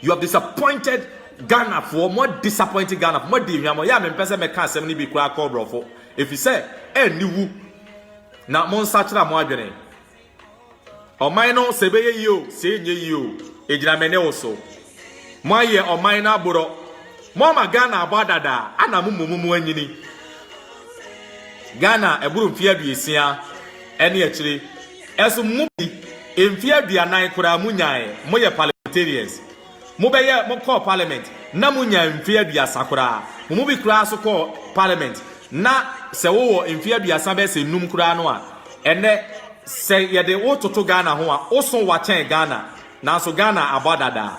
You have disappointed Ghana foɔ, mo disappointed Ghana foɔ, mo adi hwam, ɔyɛ a me mpɛ sɛ me ka asɛm no bi koraa kɔ brɔfo, efi sɛ ɛnni wu, na mo nsa kyerɛ mo adwene. Ɔman no sɛ ɛbɛyɛ yie o, sɛ ɛnyɛ yie o, egyina me ne wo so. Mo ayɛ ɔman no aborɔ, mo ama Ghana abɔ adada, ana mo mmom mo anyini. Ghana ɛboro mfie aduosia. ɛne akyire ɛso mo bi mfeɛ aduanan koraa mo nyaaɛ mo yɛ parliamentarians mo bɛyɛ mo kɔɔ parliament na mo nyaa mfeɛ aduasa koraa mo mo bi koraa so kɔɔ parliament na sɛ wo wɔ mfeɛ aduasa bɛyɛ sɛ num koraa no a ɛnɛ sɛ yɛde wo toto Ghana ho a wo so wa kyɛn Ghana nanso Ghana abɔ adadaa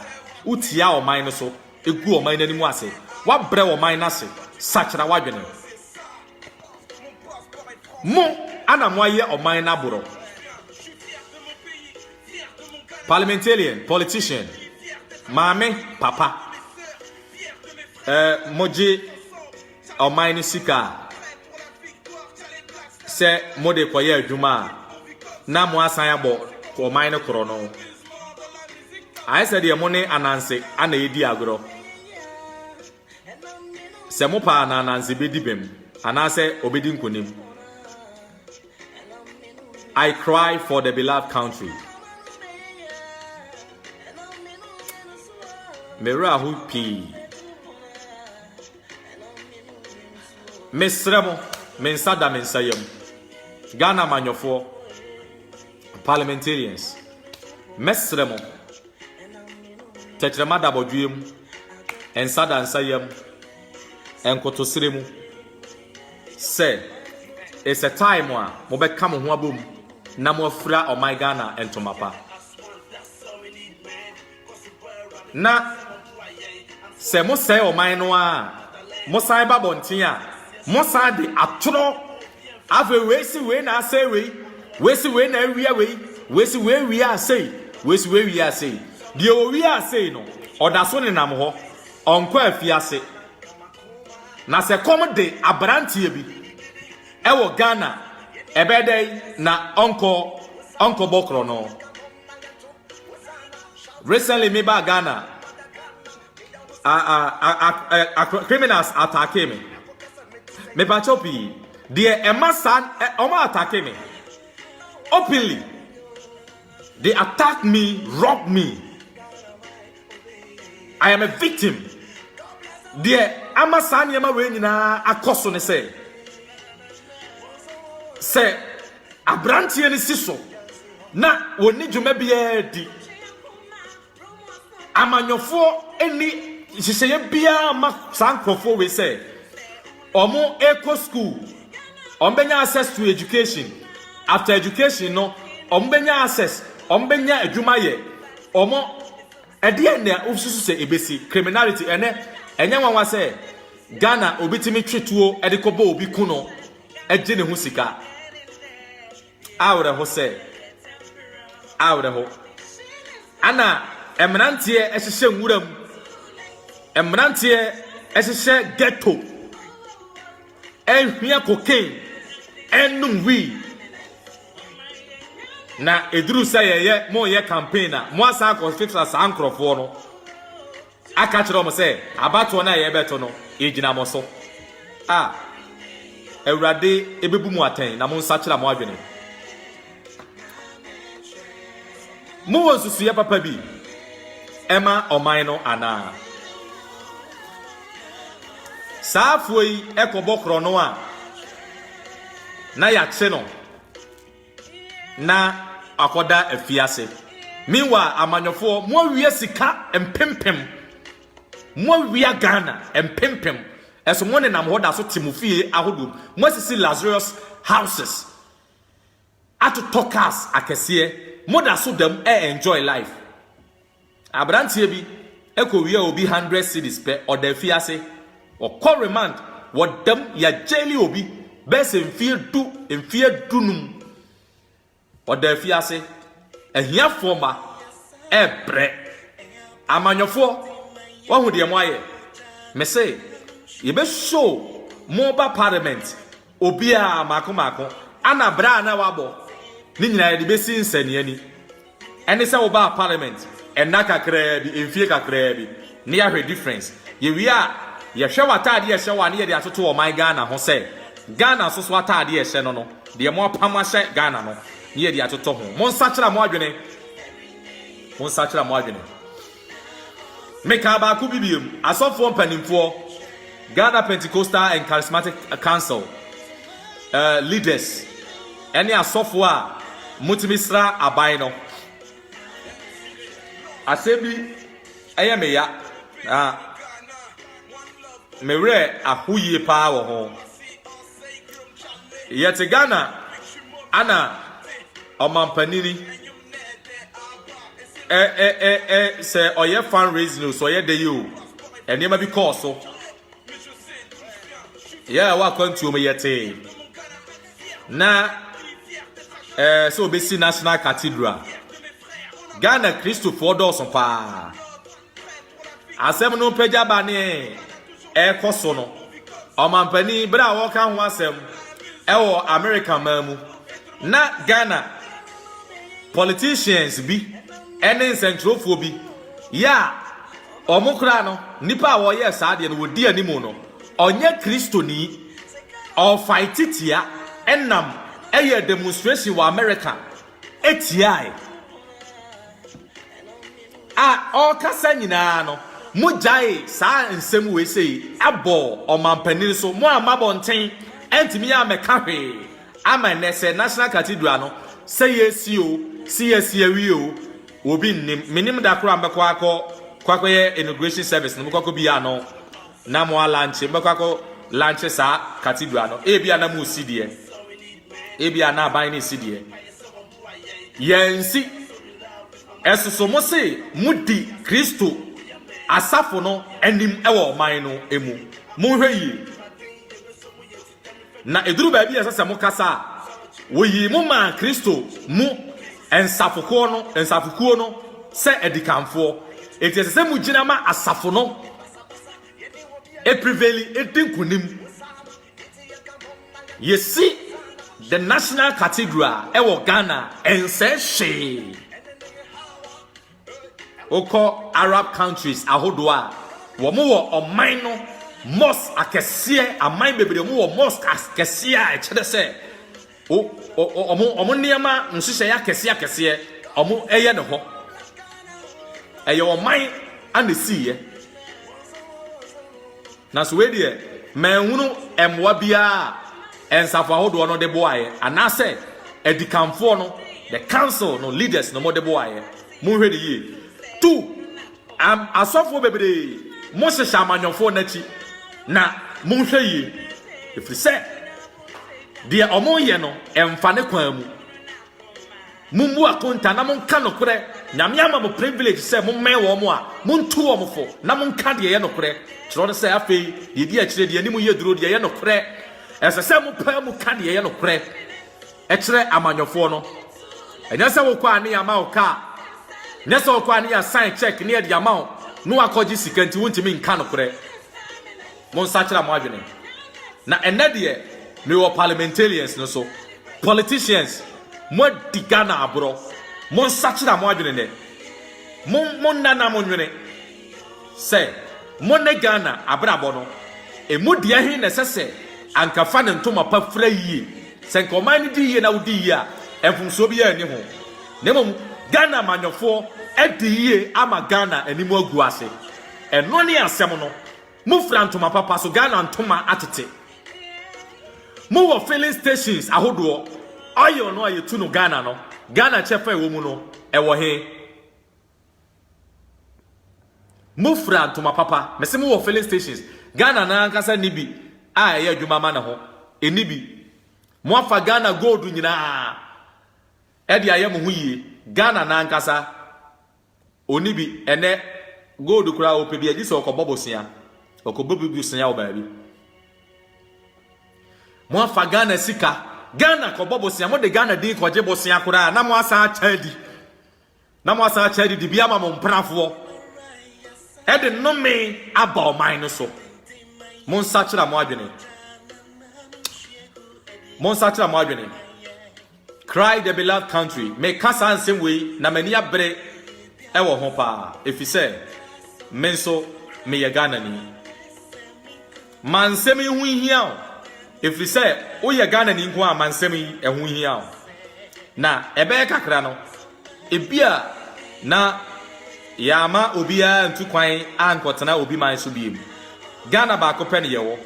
wo tia ɔman no so egu ɔman no anim ase wa brɛ ɔman no ase sakyera wadwene. Mo ana moayɛ ɔman no aborɔ. Parliamentarian, politician, maame, papa. Eh, mogye ɔman no sika a, sɛ mode kɔyɛ adwuma a, na mo asan abɔ ɔman no korɔ no. Ayɛ sɛ deɛ mo ne ananse ana ɛdi agorɔ. Sɛ mo paa na Ananse bedi bem anaasɛ obedi nkonim. I cry for the beloved country. Mewerɛ aho pii. Mesrɛ mo, me nsa da me nsa yam. Ghana amanyɔfoɔ, parliamentarians, mɛsrɛ mo. Tɛkyerɛma da bɔdwoeɛ mu, nsa da nsa yam, nkotosrɛ mu. Sɛ it's a time a mobɛka mo ho abom na moafira ɔman Ghana ntoma pa. Na sɛ mosɛe ɔman no a, mosan ba bɔnten a, mosan de atorɔ Afei wei si wei na asɛe wei, wei si wei na awia wei, wei si wei wia asɛe, wei si wei wia asɛe. Deɛ ɔwia asɛe no, ɔda so nenam hɔ, ɔnkɔ afiase. Na sɛ kɔm de aberanteɛ bi ɛwɔ Ghana, ɛbɛyɛ dɛn na ɔnkɔ ɔnkɔbɔ korɔno? recently me ba ghana criminals atake me mepakyɛw pii deɛ ɛma saa ɔma atake me openly they attack me rob me i am a victim deɛ ama saa nneɛma wei nyinaa akɔ so ne sɛ sɛ Aberanteɛ no si so na wɔnni dwuma biara di. Amanyɔfoɔ nni nhyehyɛeɛ biara ma saa nkurɔfoɔ wei sɛ wɔkɔ school, wɔbɛnya access to education. After education no, wɔbɛnya access, wɔbɛnya adwuma yɛ. Wɔn ɛdeɛ na wosusu sɛ ebesi criminality ɛnɛ ɛnyɛ nwanwa sɛ Ghana obi tumi twe tuo de kɔbɔ obi ku no. gye ne ho sika. Awerɛho sɛ, awerɛho. Ana mmeranteɛ hyehyɛ nwura mu, mmeranteɛ hyehyɛ ghetto, ɛhia cocaine, ɛnum wii. Na ɛduru sɛ yɛyɛ moyɛ campaign a, moasan akɔketra saa nkurɔfoɔ no. Aka akyerɛ wɔn sɛ, Abatoɔ no a yɛrebɛto no, ɛgyina mo so. A Awurade bɛbu mo atɛn na monsakyera mo adwene. Mowɔ nsusuiɛ papa bi ma ɔman no anaa? Saa afoɔ yi kɔbɔ korɔno a na yɛakye no. na wakɔda afiase. Meanwhile, amanyɔfoɔ, moawia sika mpempem, moawia Ghana mpempem, ɛso mo nenam hɔ da so te mo fie ahodoɔ, moasisi luxurious houses, atotɔ cars akɛseɛ, moda so dam ɛ enjoy life. Aberanteɛ bi kɔwiaa obi hundred cedis pɛ ɔda afiase, ɔkɔ remand, wɔdam, yɛagyɛɛli obi bɛyɛ sɛ mfeɛ du, mfeɛ dunum, ɔda afiase. Ahiafoɔ mma ɛrebrɛ. Amanyɔfoɔ, woahu deɛ moayɛ? Mese, yɛbɛshow mo ba parliament. Obiara, mmaako mmaako, ana bra a na wabɔ ne nyinaa yɛde bɛsi nsɛnneani. Ɛne sɛ wobaa parliament nna kakraa bi, mfie kakraa bi, na yɛahwɛ difference. Yɛwie a, yɛhwɛ w'ataadeɛ a ɛhyɛ wo a na yɛde atoto ɔman Ghana ho sɛ, Ghana nso so ataadeɛ a ɛhyɛ no no, deɛ moapam ahyɛ Ghana no, na yɛde atoto ho. Monsakyera mo adwene. Monsakyera mo adwene. Mekaa baako bi biom, Asɔfoɔ mpanimfoɔ, Ghana Pentecostal and Charismatic Council uh, leaders, ɛne asɔfoɔ a motumi sra aban no. Asɛm bi ɛyɛ me ya na me werɛ aho yie paa wɔ ho. Yɛte Ghana ana ɔmanpanini ɛ ɛ ɛ ɛ sɛ ɔyɛ fan raising o sɛ ɔyɛ dɛ yi o nneɛma bi kɔɔ so yɛ a ɛwɔ akwantuo mu yɛ tee na ɛɛ sɛ obesi national cathedral ghana kristofoɔ dɔɔso paa. asɛm no pagya ba ne ɛrekɔ so no ɔmampanin bere a wɔka ho asɛm ɛwɔ america man mu na ghana politicians bi ɛne nsɛnkyerɛfoɔ bi yɛ a wɔn koraa no nipa a wɔyɛ saa deɛ no wɔdi anim no ɔnyɛ kristoni ɔfae titia ɛnam ɛyɛ demonstration wɔ america tiae. A ɔrekasa nyinaa no, mogyae saa nsɛm wei sei bɔ ɔmampanin so. Mo a mabɔ nten antumi ammɛka hwee ama nnɛ sɛ National Cathedral no sɛ yɛsi o, si yɛsi awie o, obi nnim. Mennim da koro a mɛkɔ akɔ kɔakɔyɛ inauguration service no, mekɔkɔ bi ano. Na mo alankye, mobɛkɔ akɔ lankye saa cathedral no, ebia na mo si deɛ, ebia na aban no si deɛ. Yɛnsi. Ɛsoso mo se modi Kristo asafo no anim wɔ ɔman no mu. Monhwɛ yie. Na eduru baabi a ɛsɛ sɛ mokasa a, woyii mo maa Kristo mu nsafokuo no, nsafokuo no sɛ adikanfoɔ. Enti ɛsɛ sɛ mogyina ma asafo no ɛpreveli, ɛdi nkonim. Yɛsi The National Cathedral ɛwɔ Ghana, ɛnsɛe hwee. Wokɔ Arab countries ahodoɔ a, wɔn wɔ ɔman no mosque akɛseɛ, aman bebree wɔn wɔ mosque akɛseɛ a ɛkyerɛ sɛ wɔn nneɛma nhyehyɛeɛ akɛseɛ akɛseɛ wɔn ɛyɛ ne hɔ. Ɛyɛ ɔman a na esiiɛ. Nanso wei deɛ, manhunu mmoa biara a nsafo ahodoɔ no de boaeɛ, anaasɛ adikanfoɔ no, the council no leaders no, wɔde boaeɛ. Monhwɛ no yie. Tu am, asɔfoɔ bebree, mohyehyɛ amanyɔfoɔ no akyi, na monhwɛ yie, ɛfiri sɛ deɛ wɔyɛ no mfa ne kwan mu. Mommu akonta na monka nokorɛ. Nyame ama mo privilege sɛ mommɛn wɔn a, montu wɔn fo na monka deɛ ɛyɛ nokorɛ. Kyerɛ no sɛ, afei, deɛ ɛdi akyire, deɛ anim yɛ duro, deɛ ɛyɛ nokorɛ. Ɛsɛ sɛ mopaa mu ka deɛ ɛyɛ nokorɛ kyerɛ amanyɔfoɔ no. Ɛnyɛ sɛ wokɔ a ne yɛama wo kaa, nyɛ sɛ wokɔ a ne yɛasan check ne yɛde ama wo na woakɔgye sika nti wontumi nka nokorɛ. monsakyera mo adwene. Na ɛnnɛ deɛ mewɔ parliamentarians no so. Politicians, moadi Ghana aborɔ. Monsakyera mo adwene nnɛ. Mo, monna na monwene sɛ mo ne Ghana abrabɔ no, ɛmu deɛ he na ɛsɛ sɛ anka fa ne ntoma pa fira yie. Sɛ nka ɔman no di yie na wodi yie a, mfomsoɔ biara nni ho. Na mmom Ghana amanyɔfoɔ adi yie ama Ghana anim agu ase. Ɛno ne asɛm no. Mo fira ntoma papa so Ghana ntoma atete. Mo wɔ filling stations ahodoɔ oil no a yɛtu no Ghana no Ghana kyɛfa ɛwɔ mu no ɛwɔ he? Mo fira ntoma papa mese mo wɔ filling stations Ghana na ankasa ni bi a ɛyɛ adwuma ma ne ho ɛni bi. Mo afa Ghana gold nyinaa ɛde ayɛ mo ho yie Ghana na ankasa. Onni bi. Ɛnnɛ, gold koraa a ɔpɛ biara, gye sɛ ɔkɔbɔ bosea. Ɔkɔbɔ bi bosea wɔ baabi. Moafa Ghana sika. Ghana kɔbɔ bosea. Mode Ghana din kɔgye bosea koraa na moasan akyɛ adi. Na moasan akyɛ adi de bi ama mo mprafoɔ. Ɛde nnome aba ɔman no so. Monsakyera mo adwene. Monsakyera mo adwene. Cry the beloved country, Meka saa nsɛm wei na m'ani abere wɔ ho paa efisɛ me nso meyɛ Ghanani. Ma nsɛm yi ho nhia wo efisɛ woyɛ Ghanani nko a ma nsɛm yi ɛho nhia wo. Na ɛbɛyɛ kakra no, ebia na yɛama obiara antu kwan ankɔtena obi man so bio. Ghana baako pɛ na yɛwɔ.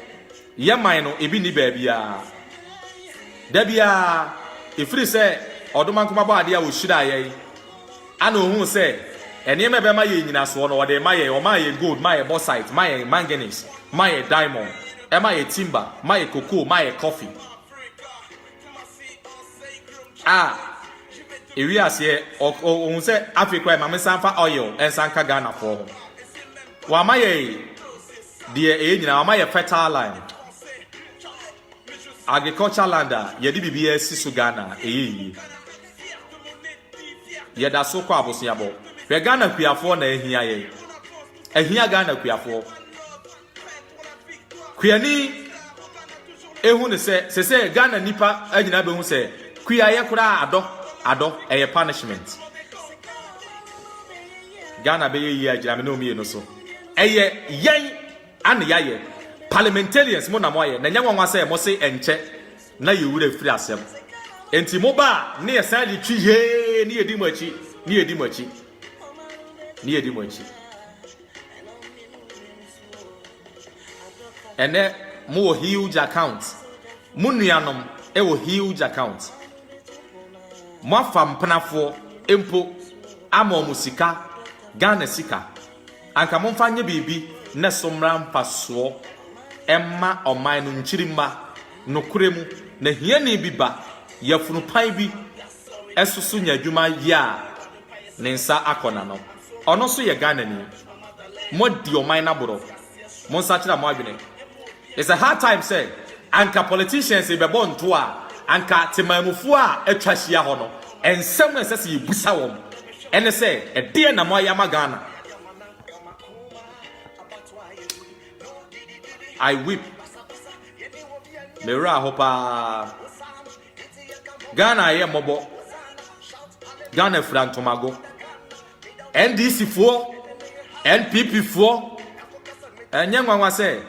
Yɛ man no ebi nni baabiara da biara, ɛfiri sɛ ɔdoma nko bɔ adeɛ a ɔhyiraa yɛn, ɛna ɔhuu sɛ nneɛma ɛbɛma yɛn nyinasoɔ no, ɔde rema yɛn, ɔmaa yɛn gold, maa yɛn bauxite, maa yɛn manganese, maa yɛn diamond, ɛmaa yɛn timber, maa yɛn cocoa, maa yɛn coffee. A ɛwie aseɛ, ɔhuu sɛ afei koraa ɛma me nsa mfa oil nsa nka Ghanafoɔ ho. Wama yɛn. Deɛ ɛyɛ nyinaa wɔama yɛ fertile land agriculture land a yɛde biribiara si so Ghana ɛyɛ yie yɛda so kɔ aboseabɔ hwɛ Ghana kuafoɔ na ahia yɛ ahia Ghana kuafoɔ kuani ehu ne sɛ sɛ sɛ Ghana nipa anyina bɛhu sɛ kuayɛ koraa adɔ adɔ ɛyɛ punishment Ghana bɛyɛ yie agyina me ne omienu so Ɛyɛ yɛn ana yɛayɛ. Parliamentarians mo na mo ayɛ na ɛnyɛ nwanwa sɛ mo se ɛnkyɛ na yɛn wura firi asɛm nti mo ba a ne yɛ san de twi hee ne yɛdi mo akyi ne yɛdi mo akyi ne yɛdi mo akyi ɛnɛ mo wɔ huge account mo nuanom ɛwɔ huge account mo afa mpenafoɔ mpo ama ɔmo sika Ghana sika Anka momfa nyɛ biribi na so mmra mfasoɔ mma ɔman no nkyirimma. Nokorɛ mu, na hiani bi ba yafunupan bi so so nya adwuma yɛ a ne nsa akɔ n'ano. Ɔno nso yɛ Ghanani. Moadi ɔman no aborɔ. Monsakyera mo adwene. It's a hard time sɛ anka politicians bɛbɔ nto a anka temanmufoɔ a atwa ahyia hɔ no nsɛm a ɛsɛ sɛ yɛbusa wɔn ɛne sɛ ɛdeɛn na moayɛ ama Ghana? I weep. Me werɛ aho paa. Ghana ayɛ mmɔbɔ. Ghana fira ntomago. NDC foɔ, NPP foɔ. Ɛnyɛ nwanwa sɛ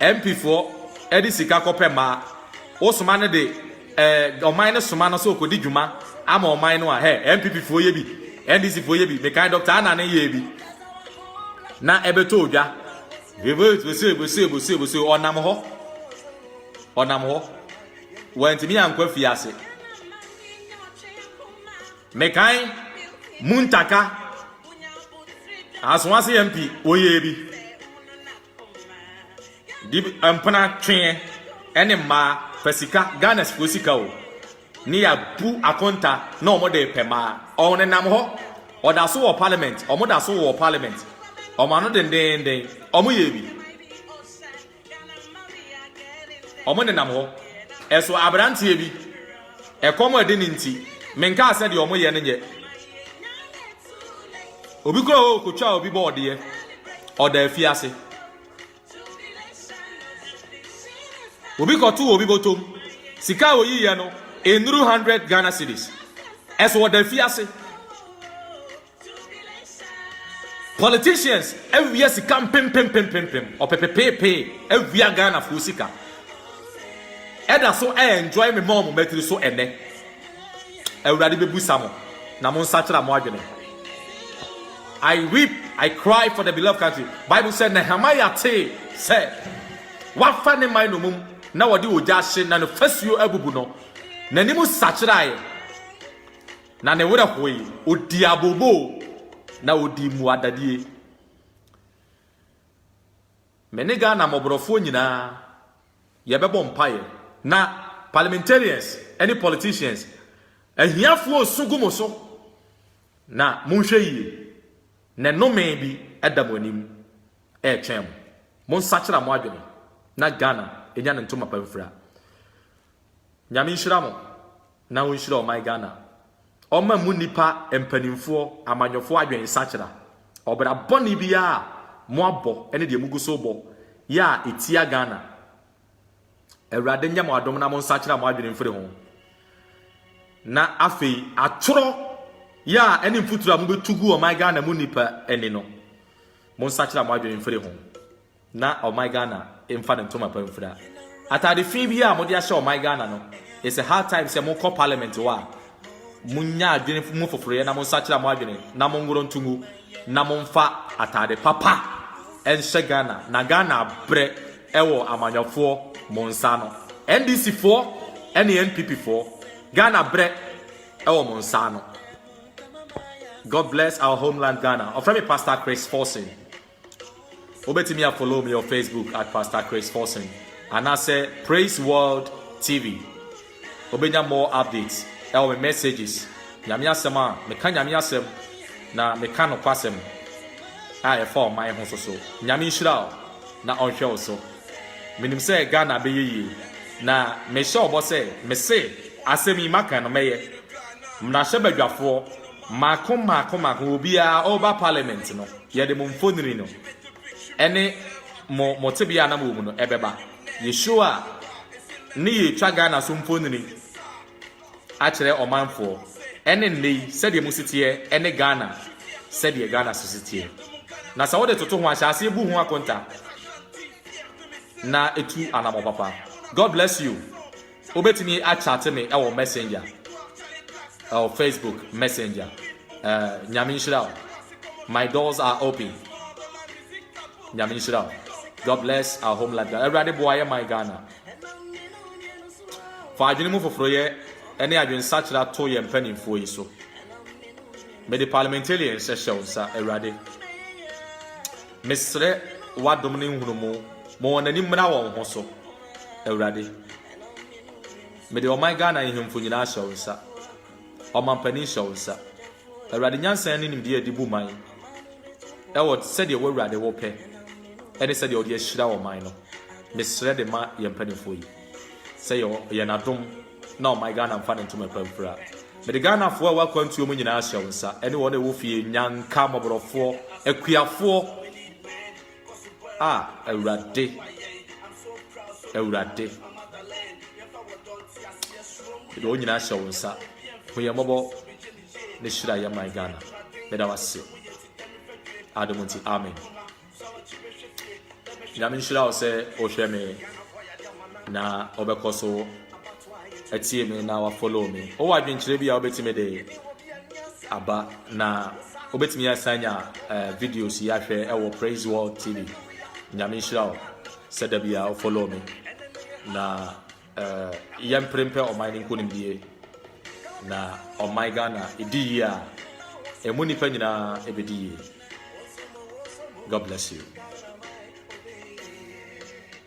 NP foɔ ɛde sika kɔpɛ mmaa. Wosoma no de ɛɛ ɔman no soma no sɛ ɔkɔdi dwuma ama ɔman no a hɛ NPP foɔ yɛ bi, NDC foɔ yɛ bi. Mekan Dr. Anna ne yɛ bi. Na ɛbɛtɔ odwa. Bose bose bose bose ɔnam hɔ. Ɔnam hɔ. Wantumi ankɔ afiase. Mekan Muntaka asoase yɛn pi oyɛ bi. Di mpena tweɛ ɛne mmaa pɛ sika Ghana sifoɔ sika o. Ne yɛ bu akonta na wɔn de pɛ mmaa. Wɔn nenam hɔ. Ɔda so wɔ parliament. Wɔn da so wɔ parliament. Wɔn ano dendenden. Wɔn yɛ bi. Wɔnenam hɔ. Ɛso aberanteɛ bi, ɛkɔm adi no nti, menkaa sɛ deɛ wɔyɛ no nyɛ. Obi kura hɔ kɔtwaa obi bɔɔdeɛ, ɔda afiase. Obi kɔtoo obi bɔtɔm, sika a wɔyiiɛ no, nnuru 100 Ghana cedis. Ɛso ɔda afiase. Politicians awia sika mpempempempempem, ɔpepepeepee awia Ghanafoɔ sika ɛda so ɛ enjoy me mom matiri so ɛnɛ. Awurade bɛbu sa mo na mo nsakyera mo adwene. I weep, I cry for the beloved country. Bible sɛ Nehemiah tee sɛ wafa ne man no mum na wɔde ogya ahye na no fasuo abubu no, n'anim sakyeraeɛ. Na ne werɛ hoe, odii abooboo, na odii mmuadadie. Me ne Ghana mmɔborɔfoɔ nyinaa yɛbɛbɔ mpaeɛ. Na parliamentarians ne politicians, ahiafoɔ resu gu mo so, na monhwɛ yie, na nnome bi da mo anim retwɛn mo. Monsakyera mo adwene na Ghana nya ne ntomapa mfira. Nyame nhyira mo, Na ɔnhyira ɔman Ghana. Ɔmma mmu nnipa, mpanimfoɔ, amanyɔfoɔ adwene sakyera. Ɔbra bɔne biara a moabɔ ne deɛ mogu so rebɔ yɛ a ɛtia Ghana, Awurade nyɛ mo adom na monsakyera mo adwene mfiri ho. Na afei atorɔ yɛ a ɛne mfuturo a mobɛtu gu ɔman Ghana mu nnipa ani no, monsakyera mo adwene mfiri ho. na ɔman Ghana mfa ne ntoma pa mfira. Atade fi biara a mode ahyɛ ɔman Ghana no, it's a high time sɛ mokɔ parliament hɔ a monya adwene mu foforoyɛ na monsakyera mo adwene na monworo nto mu na momfa atade papa nhyɛ Ghana na Ghana abrɛ wɔ amanyɔfoɔ mo nsa ano. NDC foɔ ne NPP foɔ, Ghana brɛ wɔ mo nsa ano. God bless our homeland Ghana. Ɔfrɛ me Pastor Chris Forson. Wobɛtumi a follow me wɔ Facebook at Pastor Chris Forson anaasɛ Praise World TV. Wobɛnya more updates ɛwɔ me messages. Nyame asɛm a meka Nyame asɛm na meka nokwasɛm a ɛfa ɔman ho so so. Nyame nhyira wo na ɔnhwɛ wo so. Menim sɛ Ghana bɛyɛ yie na mehyɛ wo bɔ sɛ mese asɛm yi maka no mɛyɛ. Mmarahyɛbadwafoɔ. Mako mako mako obiara ɔreba parliament no yɛde mo mfonini no ɛne mo mo tebea a na mowɔ mu no ɛbɛba. Yɛ show a ne yɛretwa Ghana so mfonini akyerɛ ɔmanfoɔ ɛne nnɛ yi sɛdeɛ mo si teɛ ɛne Ghana sɛdeɛ Ghana si teɛ. Na sɛ wode toto ho a hyɛ aseɛ bu ho akonta na tu anamɔ papa. God bless you. Wobɛtumi akyate me wɔ messenger, ɛwɔ Facebook messenger. Eh, Nyame nhyira wo. My doors are open. Nyame nhyira wo. God bless our home life. Awurade boa yɛ man Ghana. Fa adwene mu foforoyɛ ne adwensakyera to yɛn mpanimfoɔ yi so. Mede parliamentarian hyɛ hyɛ wo nsa, Awurade. Mesrɛ w'adom ne nhunumu ma wɔn ani mmra wɔn ho so. Awurade, mede ɔman Ghana nhemfo nyinaa hyɛ wo nsa. Ɔmampanin hyɛ wo nsa. Awurade, nyansa ne nimdeɛ a de bu man ɛwɔ sɛdeɛ wo Awurade wo pɛ ɛne sɛdeɛ ɔde ahyira ɔman no. Mesrɛ de ma yɛn mpanimfoɔ yi sɛ yɛ yɛn adom na ɔman Ghana mfa ne ntoma pa mfira. Mede Ghanafoɔ a ɛwɔ akwantuo mu nyinaa hyɛ wo nsa ɛne wɔn a ɛwɔ fie, nyanka, mmɔborɔfoɔ, akuafoɔ, a Awurade, Awurade, yɛde wɔn nyinaa hyɛ wo nsa. Hu yɛn mmɔbɔ ne hyira yɛn man Ghana. Meda wo ase. Adom nti, amen. Nyame nhyira wo sɛ wohwɛ me na ɔbɛkɔ so atie me na wa follow me. Wowɔ adwenkyerɛ bi a wobɛtumi de aba na wobɛtumi asan nya eh, videos yi ahwɛ ɛwɔ Praise World TV. Nyame nhyira wo sɛ da bi a wo follow me na eh, yɛmpere mpɛ ɔman no nkonimdie na ɔman Ghana ɛdi yie a ɛmu nnipa nyinaa ɛbɛdi yie. God bless you.